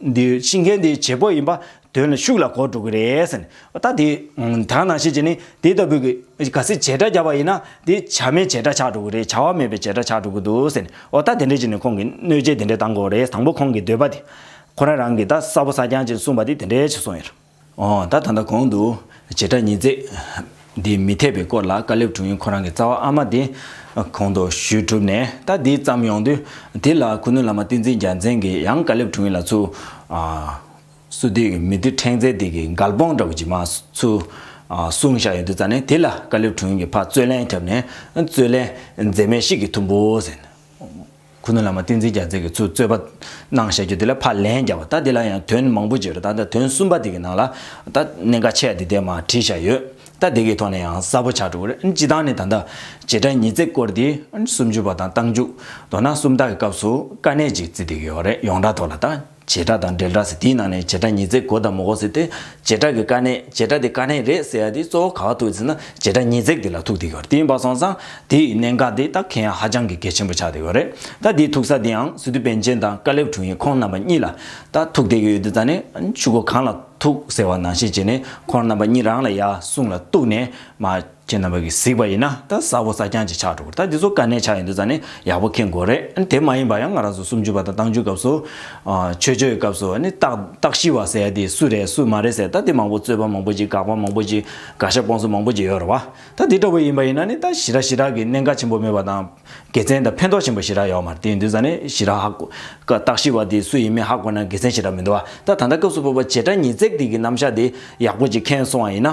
འདི་ཤི་མཁན་དེའི་བྱེད་པོ་ཡིན་པ་དོན་ལ་ཤུགས་ལ་གོ་འགྲོ་གི་རེད། ད་དེ་དག་ན་ཤེས་ཀྱི་ནི་དེ་ལྟ་བུའི་གི་ག་སི་བྱེད་སྒྲ་བརྒྱབ་པ་ཡིན་ན་དེ་བྱ་མེད་བྱེད་སྒྲ་ཆགས་འགྲོ་གི་རེད་བྱ་བ་མེད་པའི་བྱེད་སྒྲ་ཆགས་འགྲོ་གི་འདུག་ད་དེ་འདྲ་ཅིག་ནི་ཁོང་གི་གནོད་བྱེད་དེ་འདྲ་གཏང་དགོས་རེད་དང་པོ་ཁོང་གི་འདོད་པ་དེ་ཁོ་རང་རང་གི་ད་གསར་བོ་གསར་རྐྱང་ཅིག་གསུངས་པ་དེ་དེ་འདྲ་ཅིག་གསུངས་ཡོད་རེད། ད་ད་ལྟ་གོང་དུ་བྱེ་བྲག་ཉིས་བརྩེགས་འདི་མི་འཐད་པའི་སྐོར་ལ་དཀར་ལེབ་དྲུང་ཡིག་ཁོ་རང་གི་རྩ་བ་ཨ་མ་དེ་གོང་དུ་ཞུས་གྲུབ་ནས་ད་འདི་བརྩམས་ཡོང་དུས་དེ་ལ་ཁུ་ནུ་བླ་མ་བསྟན་འཛིན་རྒྱལ་མཚན་གྱིས་ཡང་དཀར་ལེབ་དྲུང་ཡིག་ལ་ཚུར་བསུ་དུས་མི་བདུད་ཕྲེང་རྩལ་དེ་གི་མགལ་སྤོང་འདྲ་བོ་ཇི་མ་ཚུ་གསུང་བཞག་ཡོད་དུས་རྩ་ནས་དེ་ལ་དཀར་ལེབ་དྲུང་ཡིག་གི་ཕ་རྩོད་ལན་ཁྱབ་ནས་རྩོད་ལན་མཛེས་མའི་གཤིས་ཀྱི་ཐུམ་བུ་ཟེར། ཁུ་ནུ་བླ་མ་བསྟན་འཛིན་རྒྱ་མཚན་གྱི་ཚུལ་རྩོད་པ། གནང་བཤད་རྒྱུད་འདི་ལ་ཕར་ལན་བརྒྱབ་པ་ད་འདི་ལ་ཡང་དོན་མང་པོ་བརྗོད་རེ་ད་ལྟ་དོན་གསུམ་པ་འདི་གི་ནང་ལ། ད་གནད་འགག་ཆེ་བ་འདི་ལྟའི་མ་བྲིས་བཞག་ཡོད། ད་འདི་གི་ཐོག་ནས་ཡང་གསལ་པོ་ཆགས་འགྲོ་གི་རེད་སྤྱི་བཏང་ནས་ད་ལྟ། བྱེ་བྲག་ཉིས་བརྩེགས་སྐོར་འདི་སུམ་ཅུ་པ་དང་རྟགས་འཇུག། མདོར་ན་སུམ་རྟགས་ཀྱི་སྐབས་སུ་དཀའ་གནད་ཅིག་བརྩི་འདོད་ཡོད་རེད་ཡོངས་གྲགས་ཐོག་ལ་ད། བྱེ་བྲག་དང་འབྲེལ་སྒྲ་ཟེར་དེའི་ནང་ནས་བྱེ་བྲག་ཉིས་བརྩེགས་གོ་དང་མོ་གོ་ཟེར་ཏེ། བྱེ་བྲག་གི་དཀའ་གནད་བྱེ་བྲག་དེ་དཀའ་གནད་རེད་ཟེར་ཡ་དེ་གཙོ་བོ་ག་བ་ཐུག་ཟེར་ན་བྱེ་བྲག་ཉིས་བརྩེགས་དེ་ལ་ཐུག་དེ་གོ་རེད་དེ་ཡིན་པ་སོང་ཙང་དེ་ཡི་གནད་འགག་དེ་ད་གལ་ཡང་ཧ་ཅང་གི་གལ་ཆེན་པོ་ཆགས་དེ་གོ་རེད་ད་དེའི་ཐུག་ས་དེ་ཡང་སི་ཏུ་པན་ཆེན་དང་ཀ་ལེབ་དྲུང་ཡིག་ཁོང་རྣམ་པ་གཉིས་ལ་ད་ཐུག་དེ་གི་ཡོད་དེ་ད་ནི་ཆུ་སྒོ་གང་ལ་ཐུག་ཟེར་བ་ནང་བཤད་བྱས་ནས་ཁོང་རྣམ་པ་གཉིས་རང་ལ་ཡ་གསུངས་ལ་གཏུགས་ནས་མ། ཁྱེད་རྣམ་པ་གིས་གཟིགས་པ་ཡིན་ན་ད་གཟའ་བོ་གཟའ་རྐྱང་གཅིག་ཆགས་འགྲོ་གི་རེད་ད་འདི་ཚོ་དཀའ་གནད་ཆགས་ཡོད་འདུག་ཙང་ནི་ཡག་པོ་ཁེངས་དགོས་རེད་དེ་མ་ཡིན་པར་ཡང་ང་རང་ཚོ་སུམ་ཅུ་པ་དང་བཏང་ཅུའི་སྐབས་སུ། ཆོས་ཆོས་ཀྱི་སྐབས་སུ་ནི་རྟགས་རྟགས་ཤི་བ་ཟེར་ཡ་དེ་སུ་རེད་སུ་མ་རེད་ཟེར་ད་དེ་མང་པོ་རྩོད་པ་མང་པོ་ཅིག་དགག་པ་མང་པོ་ཅིག་དགག་ཞྭ་སྤོང་ཚུལ་མང་པོ་ཅིག་ཡོད་རེད་བ་ད་དེ་འདྲ་བོ་ཡིན་པ་ཡིན་ན་ནི་ད་ཞི་ར་ཞི་ར་གི་གནད་འགག་ཆེན་པོ་མེད་པ་དང། དགེ་མཚན་དང་ཕན་ཐོགས་ཆེན་པོ་ཞི་ར་ཡོད་མ་རེད་དེ་ཡིན་དུས་ཙང་ནི་ཞི་ར་ཧ་གོ། རྟགས་ཤི་བ་དེ་སུ་ཡིན་མིན་ཧ་གོ་ན་དགེ་མཚན་ཞི་ར་མི་འདུག་བ་ད་ད་ལྟ་སྐབས་སུ་བོད་པ་བྱེ་བྲག་ཉིས་བརྩེགས་དེ་གི་རྣམ་གཞག་དེ་ཡག་པོ་ཅིག་ཁེངས་སོང་བ་ཡིན་ན།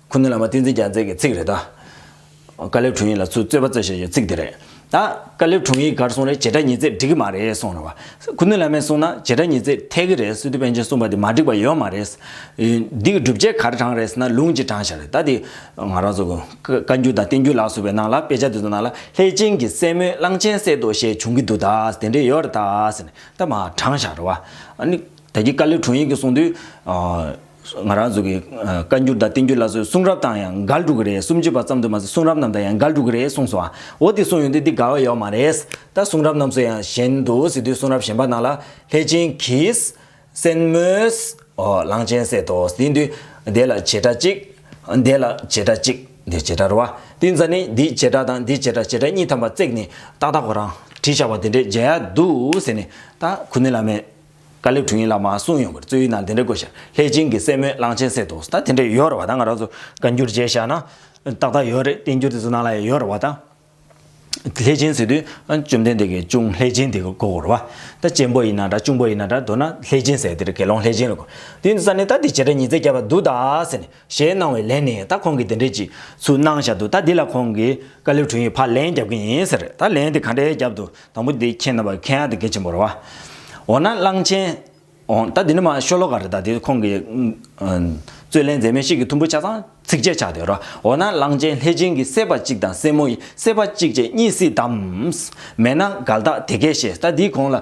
ཁུ་ནུ་བླ་མ་བསྟན་འཛིན་རྒྱལ་མཚན་གྱི་ཚིག་རེད་དཱ། དཀར་ལེབ་དྲུང་ཡིག་ལ་ཚུར་རྩོད་པ་རྩོད་བྱེད་ཀྱི་ཚིག་དེ་རེད་དཱ། དཀར་ལེབ་དྲུང་ཡིག་གར་སོང་རེད་བྱེད་སྒྲ་ཉིས་བརྩེགས་འགྲིག་གི་མ་རེད་གསུངས་རེད་བ། ཁུ་ནུ་བླ་མས་གསུངས་ན་བྱེད་སྒྲ་ཉིས་བརྩེགས་འཐད་ཀྱི་རེད་སི་ཏུ་པཎ་ཆེན་གསུངས་པ་དེ་མ་འགྲིག་པ་ཡོད་མ་རེད། འདི་གི་སྒྲུབ་བྱེད་གར་དྲངས་རེད་ཟེར་ན་ལུང་གཅིག་དྲངས་བཞག་རེད་དཱ། དེ་ང་རང་ཚོ་བཀའ་འགྱུར་དང་བསྟན་འགྱུར་ལགས་སོ་བའི་ནང་ལ་དཔེ་ཆ་དེ་ཚོ་ནང་ལ་ལྷས་བྱིན་གྱི་སྲས་མོས་གླང་ཆེན་བསད་དོ་ཞེས་བྱུང་གི་འདུག་དཱ་དེ་འདྲས་ཡོད་རེད་དཱ་ཟེར་ནས་ད་མ་དྲངས་བཞག་རེད་བ། ད་གི་དཀར་ལེབ་དྲུང་ཡིག་གིས་གསུངས་དུས། ང་རང་ཚོ་གི་བཀའ་འགྱུར་དང་བསྟན་འགྱུར་ལ་སོའི་གསུང་རབ་དང་ཡང་འགལ་འགྲོ་གི་རེད་སུམ་ཅུ་པ་ཙམ་དུ་མ་ཟད་གསུང་རབ་རྣམས་དང་ཡང་འགལ་འགྲོ་གི་རེད་གསུངས་སོ། འོ་དེ་གསུངས་ཡོང་དུས་འདི་འགལ་བ་ཡོད་མ་རེད། ད་གསུང་རབ་རྣམས་སུ་ཡང་གཞན་དུ་ཟེར་དུས་གསུང་རབ་གཞན་པ་ནང་ལ་ལྷས་བྱིན་གྱིས། སེན་མོས། གླང་ཆེན་བསད་དོ་ཟེར་དུས། དེ་ལ་བྱེ་བྲག་གཅིག། དེ་ལ་བྱེ་བྲག་གཅིག། འདིར་བྱེ་བྲག་རོ། དེ་ཚ་ནི་འདིའི་བྱེ་བྲག་དང་འདིའི་བྱེ་བྲག་བྱེ་བྲག་གཉིས་ཐམས་པ་བརྩེགས་ནས་ཏག་ཏག་གོ་རང་བྲིས་བཞག་པ་དེ་འདྲས་མཇལ་ཡག་འདུག་ཟེར་ནས་ད་ཁུ་ནུ་བླ་མས། བཀའ་ལེབ་དྲུག་ཡིན་ལ་མ་གསུངས་ཡོང་གི་རེད་རྩོད་ཡུལ་ནང་དེ་འདྲ་དགོས་ཤག་ལྷས་བྱིན་གྱི་སྲས་མོས་གླང་ཆེན་བསད་འདུག་ཟད་དེ་འདྲ་ཡོད་རེད་བ་དང་ང་རང་ཚོ་བཀའ་འགྱུར་མཇལ་ཞག་ན་ཏག་ཏག་ཡོད་རེད་བསྟན་འགྱུར་དེ་ཚོ་ནང་ལ་ཡང་ཡོད་རེད་བ་དང། ལྷས་བྱིན་བསད་དུས་བཅོམ་ལྡན་འདས་ཀྱིས་ཅུང་ལྷས་བྱིན་དེ་བསྐོ་གོ་རེད་བ། ད་གཅེན་པོ་ཡིན་ན་འདྲ་ཆུང་པོ་ཡིན་ན་འདྲ་མདོར་ན་ལྷས་བྱིན་ཟེར་དེ་རེད་དགེ་སློང་ལྷས་བྱིན་ལ་གོ། དུས་འདི་ས་ནས་ད་དེ་བྱས་དྲ་ཉིས་བརྩེགས་བརྒྱབ་པ་འདུག་ད་ཟེར་ནས། ཞེས་གནང་བའི་ལན་ནི་ད་ཁོང་གིས་དེ་འདྲའི་ཅིག་ཚུལ་གནང་བཞག་འདུག་ད་འདི་ལ་ཁོང་གིས་བཀའ་ལེབ་དྲུང་ཡིག་ཕར་ལན་རྒྱབ་ཀྱི་ཡིན་ཟེར་ད་ལན་དེ་ག་འདྲའི་རྒྱབ་འདུག་དང་པོ་འདི་ཁྱེད་རྣམ་པ་མཁན་ཨ་དེ་དགེ་ཆེན་པོར་བ། འོ་ན་གླང་ཆེན། འོ་ད་འདི་འདྲ་མ་ཤོ་ལོ་ཀ་རེད་ད་དེ་ཁོང་གིས། རྩོད་ལན་མཛད་མི་ཞིག་གིས་ཐུམ་བུ་ཆ་ཚང་ཚིགས་བཅད་ཆགས་དེར་བ་འོ་ན་གླང་ཆེན་ལྷས་སྦྱིན་གྱི་སྲས་པ་གཅིག་དང་སྲས་མོ་ཡི་སྲས་པ་གཅིག་བཅས་གཉིས་སྲིད་དམ། མེད་ན་འགལ་རྟགས་དེ་གས་ཤེས་ད་འདི་ཁོང་ལ་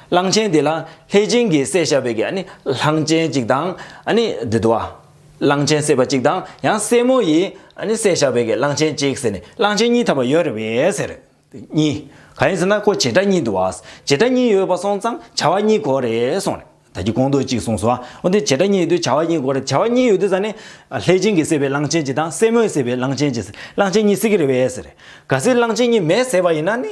གླང་ཆེན་དེ་ལ་ལྷས་སྦྱིན་གྱིས་བསད་བཞག་པའི་གནས་གླང་ཆེན་གཅིག་དང། བདུད་བ། གླང་ཆེན་བསད་པ་གཅིག་དང་ཡང་སྲས་མོ་ཡིས་བསད་བཞག་པའི་གླང་ཆེན་གཅིག་ཟེར་ནས་གླང་ཆེན་གཉིས་ཐ་མ་ཡོད་རེད་བས་ཟེར། གཉིས། གང་ཡིན་ཟེར་ན་ཁོ་བྱེ་བྲག་གཉིས་འདུག་བ། བྱེ་བྲག་གཉིས་ཡོད་པ་སོང་ཙང་བྱ་བ་གཉིས་གོ་རེད་གསུངས་རེད། ད་ཀྱི་ཀོང་ཏོག་གཅིག་གསུངས་སོང་བ། འོ་དེ་བྱེ་བྲག་གཉིས་ཡོད་དུས་བྱ་བ་གཉིས་གོ་རེད་བྱ་བ་གཉིས་ཡོད་དུས་ཟ་ནི། ལྷས་སྦྱིན་གྱིས་བསད་པའི་གླང་ཆེན་གཅིག་དང་སྲས་མོས་བསད་པའི་གླང་ཆེན་གཅིག་གླང་ཆེན་གཉིས་སྲིད་ཀྱི་རེད་བས་ཟེར། ག་སྲིད་གླང་ཆེན་གཉིས་མེས་བསད་པ་ཡིན་ན་ནི།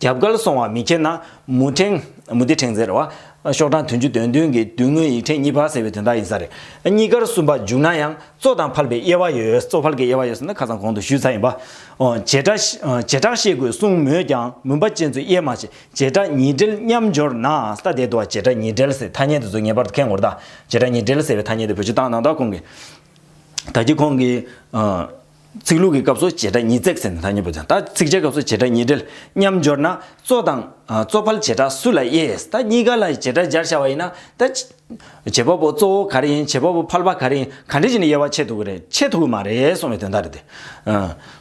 རྒྱབ་ཁར་སོང་བ་མི་ཁྱེར་ན། མུ་ཕྲེང། མུ་ཏིག་ཕྲེང་ཟེར་བ། ཤོག་གྲངས་དོན་བཅུ་དོན་བདུན་གྱི་བསྡུས་དངོས་ཡིག་ཕྲེང་གཉིས་པ་ཟེར་བའི་དོན་དག་ཡིན་ས་རེད། གཉིས་ཀར་གསུམ་པ་འཇུག་ན་ཡང་གཙོ་དང་ཕལ་པའི་དབྱེ་བ་ཡོད། གཙོ་ཕལ་གྱི་དབྱེ་བ་ཡོད་ཟེར་ན་ཁ་ཙམ་གོང་དུ་ཞུས་ཚར་ཡིན་པ། བྱེ་བྲག་བཤད་དགོས་གསུངས་མོད་ཀྱང་མུན་པ་ཅན་ཚོས་དབྱེ་མ་བྱས་བྱེ་བྲག་ཉིས་འབྲེལ་མཉམ་སྦྱོར་ན་ས་དེ་དུ་བ་བྱེ་བྲག་ཉིས་འབྲེལ་ཟེར་ཐ་སྙད་དེ་ཚོ་ངེས་པར་དུ་ཁེངས་དགོས་རེད་ད། བྱེ་བྲག་ཉིས་འབྲེལ་ཟེར་བའི་ཐ་སྙད་དེ་བོད་སྤྱི་བཏང་གནང་དག་གོང་གི། ད་ཀྱི་ཁོང་གིས། ཚིག་ལྷུག་གི་སྐབས་སུ་བྱེ་བྲག་ཉིས་བརྩེགས་ཟེར་ནས་ཐ་སྙད་འབོད་ཅིང་ད་ཚིག་བྱེད་སྐབས་སུ་བྱེ་བྲག་ཉིས་སྦྲེལ་མཉམ་སྦྱོར་ན་གཙོ་དང། གཙོ་ཕལ་བྱེ་བྲག་སུ་ལ་དབྱེ། ད་གཉིས་ཀ་ལ་བྱེ་བྲག་སྦྱར་བྱ་བ་ཡིན་ན། ད། བྱེད་པ་པོ་གཙོ་བོ་ག་རེ་ཡིན་བྱེད་པ་པོ་ཕལ་པ་ག་རེ་ཡིན་ག་འདྲེ་བྱས་ནས་དབྱེ་བ་ཕྱེ་ཐུབ་ཀྱི་རེད་ཕྱེ་ཐུབ་ཀྱི་མ་རེད་གསུངས་བའི་དོན་དག་རེད་དེ།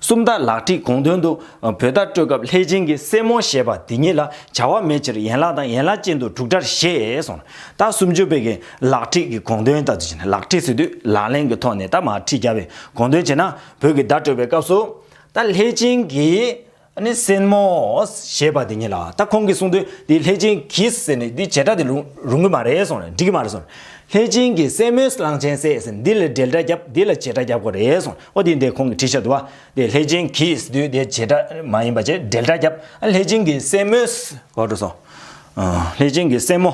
སུམ་རྟགས་ལག་བྲིས་གོང་དོན་དུ། བུ་བདག་སྤྲོད་སྐབས་ལྷས་བྱིན་གྱི་སྲས་མོ་ཞེས་པ་དེ་ཉིད་ལ་བྱ་བ་མེད་ཕྱིར་ཡན་ལག་དང་ཡན་ལག་ཅན་དུ་དྲུག་སྒྲར་བཞེད་གསུངས། ད་སུམ་ཅུ་པའི་གན་ལག་ཁྲིད་ཀྱི་དགོངས་དོན་ལྟར་བྱས་ན་ལག་ཁྲིད་སྲིད་དུས་ལག་ལེན་གྱི་ཐོག་ནས་ད་མ་ཁྲིད་རྒྱ་བའི་དགོངས་དོན་བྱས་ན་བོད་ཀྱི་བརྡ་སྤྲོད་པའི་སྐབས་སུ། ད་ལྷས་བྱིན་གྱིས་སེན་མོ་ཞེས་པ་དེ་ཉིད་ལ་ད་ཁོང་གིས་གསུངས་དུས་འདི་ལྷས་བྱིན་གྱིས་ཟེར་ནས་འདི་བྱེ་བྲག་དེ་རུང་གི་མ་རེད་གསུངས་ནས་འགྲིག་གི་མ་རེད་གསུངས། ལྷས་བྱིན་གྱིས་སེན་མོས་གླང་ཆེན་བསད་ཟེར་འདི་ལ་འགྲེལ་སྒྲ་བརྒྱབ་འདི་ལ་བྱེ་བྲག་བརྒྱབ་དགོས་རེད་གསུངས་ཨོ་དེ་འདི་ཁོང་གིས་ཁྲིད་ཤག་དུ་བ་འདི་ལྷས་བྱིན་གྱིས་ཟེར་དུས་འདི་བྱེ་བྲག་མ་ཡིན་པ་བྱས་འགྲེལ་སྒྲ་བརྒྱབ་ཨ་ལྷས་བྱིན་གྱིས་སེན་མོས། ལྷས་བྱིན་གྱིས་སེན་མོ།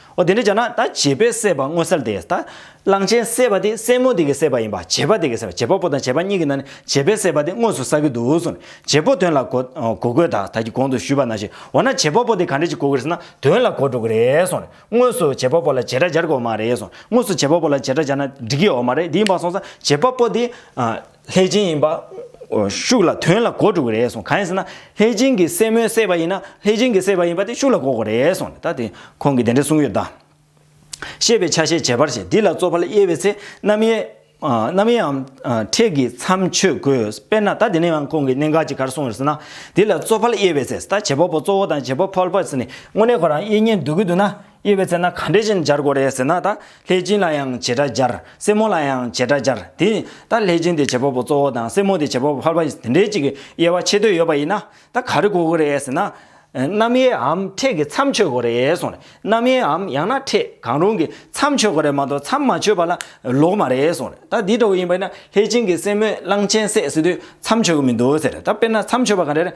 འོ་དེ་འདྲ་བྱས་ན་ད་བྱེད་པོས་བསད་པ་དངོས་བསལ་ཏེ། ད་གླང་ཆེན་བསད་པ་དེ་སྲས་མོ་དེ་གིས་བསད་པ་ཡིན་པ་བྱེད་པ་དེ་གིས་བསད་པ་བྱེད་པ་པོ་དང་བྱེད་པ་གཉིས་ཀྱི་ནང་ནས་བྱེད་པོས་བསད་པ་དེ་དངོས་སུ་བསགས་ཀྱི་འདུག་ཟེར་ནས་བྱེད་པོ་དོན་ལ་གོ། གོ་དགོས་ད་ད་ཀྱི་གོང་དུ་ཞུས་པ་ན་ཞེས་འོ་ན་བྱེད་པ་པོ་དེ་ག་འདྲ་ཞིག་གོ་དགོས་ཟེར་ན་དོན་ལ་གོ་འགྲོ་གི་རེད་གསུངས་ནས་དངོས་སུ་བྱེད་པ་པོ་ལ་བྱེད་སྒྲ་སྦྱར་དགོས་མ་རེད་གསུངས་དངོས་སུ་བྱེད་པ་པོ་ལ་བྱེད་སྒྲ་སྦྱར་ན་འགྲིག་གི་ཡོད་མ་རེད་དེ་ཡིན་པ་སོང་ཙང་བྱེད་པ་པོ་དེ། ལྷས་སྦྱིན་ཡིན་པ། ཤུགས་ལ་དོན་ལ་གོ་དྲུག་རེད་གསུངས། གང་ཡིན་ཟེར་ན། ལྷས་སྦྱིན་གྱི་སྲས་མོའི་སྲས་པ་ཡིན་ན། ལྷས་སྦྱིན་གྱི་སྲས་པ་ཡིན་པ་དེ་ཤུགས་ལ་གོ་དགོས་རེད་གསུངས། ད་དེ་ཁོང་གིས་དེ་འདྲ་གསུངས་ཡོད་གདའ། ཤེས་པའི་ཆ་ཤས་བྱེད་པར་བྱེད་འདི་ལ་རྩོད་པ་ལ་དབྱེ་བའི་ཚེ་རྣམ་དབྱེ། རྣམ་དབྱེའམ། ཕྲད་ཀྱི་མཚམས་ཆོད་དགོས། དཔེར་ན་ད་དེ་ནི་ཡང་ཁོང་གིས་གནད་འགག་ཅིག་གར་གསུངས་ཡོད་ཟེར་ན། འདི་ལ་རྩོད་པ་ལ་དབྱེ་བའི་ཚེ་ད་བྱེད་པ་པོ་གཙོ་བོ་དང་བྱེད་པ་ཕལ་པ་ཟེར་ནས་དངོས་གནས་ཁོ་རང་དབྱེ་ཉེས་འདུག་གི་འདུག་ན། དབྱེ་བའི་ཚེ་ན་གང་འདྲའི་བཞིན་སྦྱར་དགོས་རེད་ཟེར་ན་ད་ལྷས་སྦྱིན་ལ་ཡང་བྱེ་བྲག་སྦྱར། སེར་མོ་ལ་ཡང་བྱེ་བྲག་སྦྱར་དེ་ཡིན། ད་ལྷས་སྦྱིན་དེ་བྱེད་པ་པོ་གཙོ་བོ་དང་སེར་མོ་དེ་བྱེད་པ་པོ་ཕལ་པ་ཡིན་དེ་འདྲའི་གཅིག་གི་དབྱེ་བ་ཕྱེ་འདོད་ཡོད་པ་ཡིན་ན་ད་ག་རེ་གོ་དགོས་རེད་ཟེར་ན། རྣམ་དབྱེའམ་ཕྲད་ཀྱི་མཚམས་ཆོད་དགོས་རེད་གསུངས་རེད། རྣམ་དབྱེའམ་ཡང་ན་ཕྲད་གང་རུང་གི་མཚམས་ཆོད་དགོས་རེད་མ་གཏོགས་མཚམས་མ་ཆོད་པ་ལ་ལོག་མ་རེད་གསུངས་རེད། ད་འདི་ལྟ་བུ་ཡིན་པ་ཡིན་ན་ལྷས་སྦྱིན་གྱི་སེར་མོས་གླང་ཆེན་བསད་ཟེར་དུས་མཚམས་ཆོད་ཀྱི་མི་འདུག་ཟེར་རེད། ད་དཔེར་ན་མཚམས་ཆོད་པ་ག་རེ་རེད་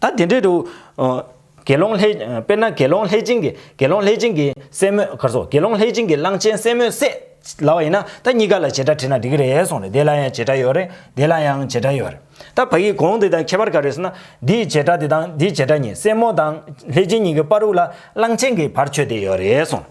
ད་དེ་འདྲའི་དུ། དགེ་སློང་ལྷས། དཔེར་ན་དགེ་སློང་ལྷས་བྱིན་གྱིས་དགེ་སློང་ལྷས་བྱིན་གྱིས་སེན་མོས་གར་སོགས་དགེ་སློང་ལྷས་བྱིན་གྱིས་གླང་ཆེན་སེན་མོས་བསད། ལ་བ་ཡིན་ན་ད་གཉིས་ཀ་ལ་བྱེ་བྲག་དྲིས་ན་འགྲིག་གི་རེད་གསུངས་རེད་དེ་ལ་ཡང་བྱེ་བྲག་ཡོད་རེད་དེ་ལ་ཡང་བྱེ་བྲག་ཡོད་རེད། ད་བ་ཡིག་གོང་དེ་དང་ཁྱད་པར་ག་རེད་ཟེར་ན། འདིའི་བྱེ་བྲག་དེ་དང་འདིའི་བྱེ་བྲག་གཉིས་སེན་མོ་དང་ལྷས་བྱིན་གཉིས་ཀྱི་དཔའ་རུ་ལ་གླང་ཆེན་གྱི་བར་ཆོད་དེ་ཡོད་རེད་གསུངས།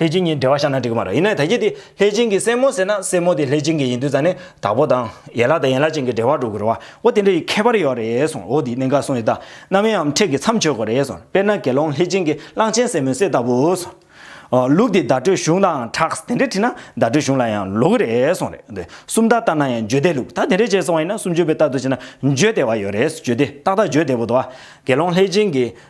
ལྷས་བྱིན་གྱིས་འབྲེལ་བ་བཞག་ན་འགྲིག་གི་མ་རེད། ཡིན་ནའི་ད་གྱིས་དེ་ལྷས་བྱིན་གྱི་སྲས་མོ་ཟེར་ན་སྲས་མོ་དེ་ལྷས་བྱིན་གྱི་ཡིན་དུས་ཙང་ནས་དྭགས་པོ་དང། ཡན་ལག་དང་ཡན་ལག་ཅན་གྱི་འབྲེལ་བ་འགྲོ་གི་རེད་བ། འོ་དེ་འདྲ་ཡི་ཁྱད་པར་ཡོད་རེད་གསུངས་འོ་དེའི་གནད་འགག་གསུངས་ཡོད་ད། གནའ་བོའི་ཡང་ཁྲེགས་ཀྱི་མཚམས་ཆོད་གི་རེད་གསུངས། དཔེར་ན་དགེ་སློང་ལྷས་བྱིན་གྱི་གླང་ཆེན་སྲས་མོའི་སྲས་ལྟ་བུ་གསུངས། ལུགས་དེ་བརྡ་སྤྲོད་གཞུང་དང་གྲགས་དེ་འདྲས་བྲིས་ན་བརྡ་སྤྲོད་གཞུང་ལ་ཡང་ལོག་གི་རེད་གསུངས་རེད་དེ། སུམ་རྟགས་ལྟར་ན་ཡང་བརྗོད་བདེ་ལུགས་ད་དེ་འདྲས་བྱས་སོང་བ་ཡིན་ན་སུམ་ཅུ་པའི་རྟགས་དུ་བྱས་ན་བརྗོད་བདེ་བ་ཡོད་རེད་བརྗོད་བདེ་ཏག་ཏག་བརྗོད་བདེ་བོ་འདུག་བ། དགེ་སློང་ལྷས་བྱིན་གྱི་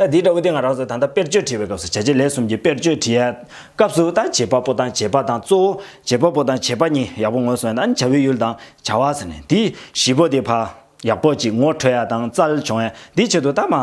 ད་དེ་འདྲ་བོ་དེ་ང་རང་ཚོས་ད་ལྟ་དཔེར་བརྗོད་བྲིས་པའི་སྐབས་སུ་བྱ་བྱེད་ལས་གསུམ་གྱི་དཔེར་བརྗོད་བྲིས། སྐབས་སུ་ད་བྱེད་པ་པོ་དང་བྱེད་པ་དང་གཙོ་བོ་བྱེད་པ་པོ་དང་བྱེད་པ་གཉིས་ཡག་པོ་ངོས་བཟུང་ཡང་ད་བྱ་བའི་ཡུལ་དང་བྱ་བ་ཟེར་ནས་འདི་བཞི་པོ་དེ་ཕར་ཡག་པོ་ཅིག་ངོ་འཕྲོད་ཡ་དང་རྩལ་བྱུང་ཡ་འདི་ཆེད་དུ་ད་མ་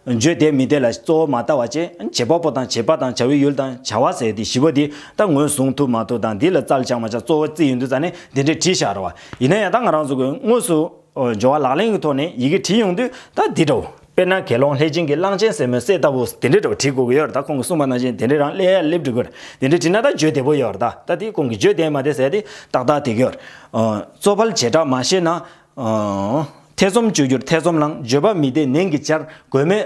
བརྗོད་བདེ་མི་བདེ་ལ་གཙོ་བོ་མ་ལྟ་བ་ཅན་བྱེད་པ་པོ་དང་བྱེད་པ་དང་བྱ་བའི་ཡུལ་དང་བྱ་བ་ཟེར་འདི་བཞི་པོ་དེ་ད་ངོས་བཟུང་ཐུབ་མ་ཐུབ་དང་འདི་ལ་རྩལ་བྱང་མ་བྱང་གཙོ་བོ་རྩིས་ཡོད་འདུག་ཙང་ནས་འདི་འདྲའི་བྲིས་ཤག་རེད་བ་ཡིན་ན་ཡང་ད་ང་རང་ཚོ་གིས་དངོས་སུ། སྦྱོར་བ་ལག་ལེན་གྱི་ཐོག་ནས་ཡི་གེ་བྲིས་ཡོང་དུས་ད་འདི་འདྲ་བོ། དཔེར་ན་དགེ་སློང་ལྷས་སྦྱིན་གྱི་གླང་ཆེན་ཟེར་མོའི་སྲས་ལྟ་བུ་དེ་འདྲ་འདྲ་བོ་བྲིས་དགོས་ཀྱི་ཡོད་རེད་ད་ཁོང་གིས་གསུངས་པ་ནང་བཞིན་དེ་འདྲའི་རང་ཀླད་ཡར་སླེབས་འགྲིག་གི་རེད་དེ་འདྲ་བྲིས་ན་ད་བརྗོད་བདེ་པོ་ཡོད་རེད་ད་དེ་ཁོང་གིས་བརྗོད་བདེ་མ་བདེ་ཟེར་ཏེ་ཏག་ཏག་དེ་གྱོད། གཙོ་ཕལ་བྱེ་བྲག་མ་ཤེས་ན། ཐེ་ཚོམ་གཅོད་རྒྱུར་ཐེ་ཚོམ་ལངས་བརྗོད་པ་མི་བདེ་ནན་གྱིས་བཅར་དགོས་མེད།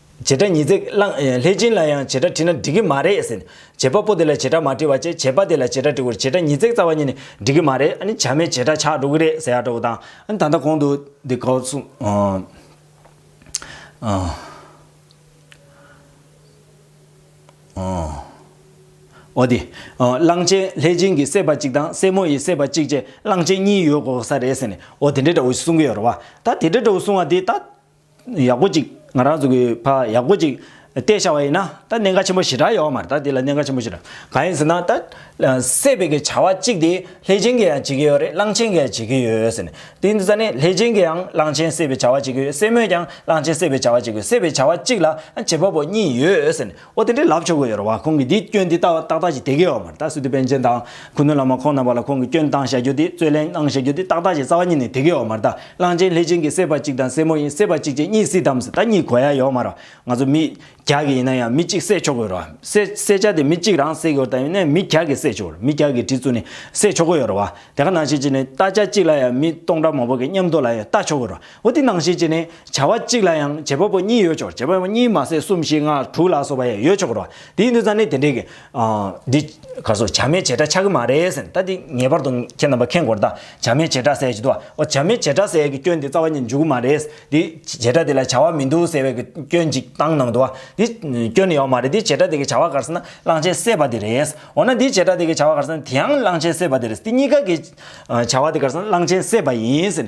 བྱེད་སྒྲ་ཉིས་བརྩེགས་བླངས། ལྷས་སྦྱིན་ལ་ཡང་བྱེད་སྒྲ་བྲིས་ན་འགྲིག་གི་མ་རེད་ཟེར། བྱེད་པ་པོ་དེ་ལ་བྱེད་སྒྲ་མ་བྲིས་བ་ཅས་བྱེད་པ་དེ་ལ་བྱེད་སྒྲ་བྲིས་ཁུར་བྱེད་སྒྲ་ཉིས་བརྩེགས་རྩ་བ་གཉིས་ནི་འགྲིག་གི་མ་རེད་ཨ་ནི་བྱ་མས་བྱེད་སྒྲ་ཆགས་འགྲོ་གི་རེད་ཟེར་ཡག་འདྲ་བོ་དང། ཨ་ནི་ད་ལྟ་གོང་དུ་འདི་གོ་སོང། འོ་དེ། གླང་ཆེན་ལྷས་སྦྱིན་གྱི་སྲས་པ་གཅིག་དང་སྲས་མོ་ཡི་སྲས་པ་གཅིག་བཅས་གླང་ཆེན་གཉིས་ཡོད་དགོས་ས་རེད་ཟེར་ནས་འོ་དེ་འདྲ་འདྲ་བོ་ཞིག་གསུང་གི་ཡོད་རེད་བ། ད་དེ་འདྲ་འདྲ་བོ་གསུང་བ་དེ་ད། ཡག་པོ་ཅིག་ང་རང་ཚོ་གི་ཕ་ཡག་པོ་ཅིག་བལྟས་བྱ་བ་ཡིན་ན་ད་གནད་འགག་ཆེན་པོ་ཞེ་དྲག་ཡོད་མ་རེད་ད་དེ་ལ་གནད་འགག་ཆེན་པོ་ཞེ་དྲག་གང་ཡིན་ཟེར་ན་ད། སྲེད་པའི་གི་བྱ་བ་གཅིག་དེ་ལྷས་བྱིན་གྱིས་ཡང་བྱེད་ཀྱི་ཡོད་རེད་གླང་ཆེན་གྱིས་ཡང་བྱེད་ཀྱི་ཡོད་ཟེར་ནས་དེ་ནི་ས་ནི་ལྷས་བྱིན་གྱིས་ཡང་གླང་ཆེན་སྲེད་པའི་བྱ་བ་བྱེད་ཀྱི་ཡོད་སྲེད་མོས་ཀྱང་གླང་ཆེན་སྲེད་པའི་བྱ་བ་བྱེད་ཀྱི་ཡོད་སྲེད་པའི་བྱ་བ་གཅིག་ལ་བྱེད་པ་པོ་གཉིས་ཡོད་ཟེར་ནས། ཨོ་དེ་འདྲའི་ལབ་ཆོག་གི་ཡོད་རེད་བ་ཁོང་གིས་འདིས་སྐྱོན་དེ་ཏག་ཏག་ཅིག་དེ་གི་ཡོད་མ་རེད་ད་སི་ཏུ་པན་ཆེན་དང་ཁུ་ནུ་བླ་མ་ཁོང་རྣམ་པ་ལ་ཁོང་གིས་སྐྱོན་བཏང་བཞག་རྒྱུ་དེ་རྩོད་གླེང་གནང་བཞག་རྒྱུ་དེ་ཏག་ཏག་ཅིག་རྩ་བ་ཉིད་ནས་དེ་གི་ཡོད་མ་རེད་ད་གླང་ཆེན་ལྷས་བྱིན་གྱིས་བསད་པ་གཅིག་དང་སྲས་མོ་ཡིན་བསད་པ་གཅིག་བཅས་གཉིས་སྲིད་དམ་ཟེར་ད་གཉིས་གོ་ཡ་ཡོད་མ་རེད་བ་ང་ཚོ་མི་རྒྱ་གི་ཡིན་ན་ཡང་མི་གཅིག་བསད་ཆོག་གི་ཡོད་རེད་བ་བསད་བསད་བྱ་དེ་མི་གཅིག་རང་བསད་གི་ཡོད་ད་ཡིན་ན་མི་རྒྱ་གིས་བསད་ཆོག་གི་རེད་མི་རྒྱ་གིས་གྲི་བཙུགས་ནས་བསད་ཆོག་གི་ཡོད་རེད་བ་དེ་ག་ནང་བྱེད་ཅིག་ནས་ལྟ་བྱ་གཅིག་ལ་ཡང་མི་སྟོང་ཕྲག་མང་པོ་གི་མཉམ་དུ་ལ་ཡང་ལྟ་ཆོག་གི་རེད་བ་འོ་དེ་ནང་བཞིན་བྱས་ནས་བྱ་བ་གཅིག་ལ་ཡང་བྱེད་པ་པོ་གཉིས་ཡོད་ཆོག་བྱེད་པ་པོ་གཉིས་མ་ཟད་གསུམ་བཞི་ལྔ་དྲུག་ལ་སོགས་པ་ཡང་ཡོད་ཆོག་གི་རོ། དེའི་འདུན་ཚ་ནི་དེ་འདྲའི། འདི། ག་སོ་བྱ་མའི་བྱེ་བྲག་ཆགས་ཀྱི་མ་རེད་ཟེར། ད་འདི་ངེས་པར་དུ་ཁྱེད་རྣམ་པ་མཁྱེན་དགོས་རེད་ད། བྱ་མའི་བྱེ་བྲག་ཟེར་བྱེད་དུ་བ། བྱ་མའི་བྱེ་བྲག་ཟེར་གྱི་སྐྱོན་དེ་རྩ་བ་ནས་འཇུག་གི་མ་རེད། འདི། བྱེ་བྲག་དེ་ལ་བྱ་བ་མི་འདུག་ཟེར་བའི་གི་སྐྱོན་གཅིག་བཏང་གནང་འདུག་བ། འདི། སྐྱོན་ཡོད་མ་རེད་འདི་བྱེ་བྲག་དེ་གི་བྱ་བ་ག་རེ་ཟེར་ན་གླང་ཆེན་བསད་པ་དེ་རེད། འོ་ན་འདི་བྱེ་བྲག་དེ་གི་བྱ་བ་ག་རེ་ཟེར་ན་དེའང་གླང་ཆེན་བསད་པ་དེ་རེད། འདི་གཉིས་ཀ་གི། བྱ་བ་དེ་ག་རེ་ཟེར་ན་གླང་ཆེན་བསད་པ་ཡིན།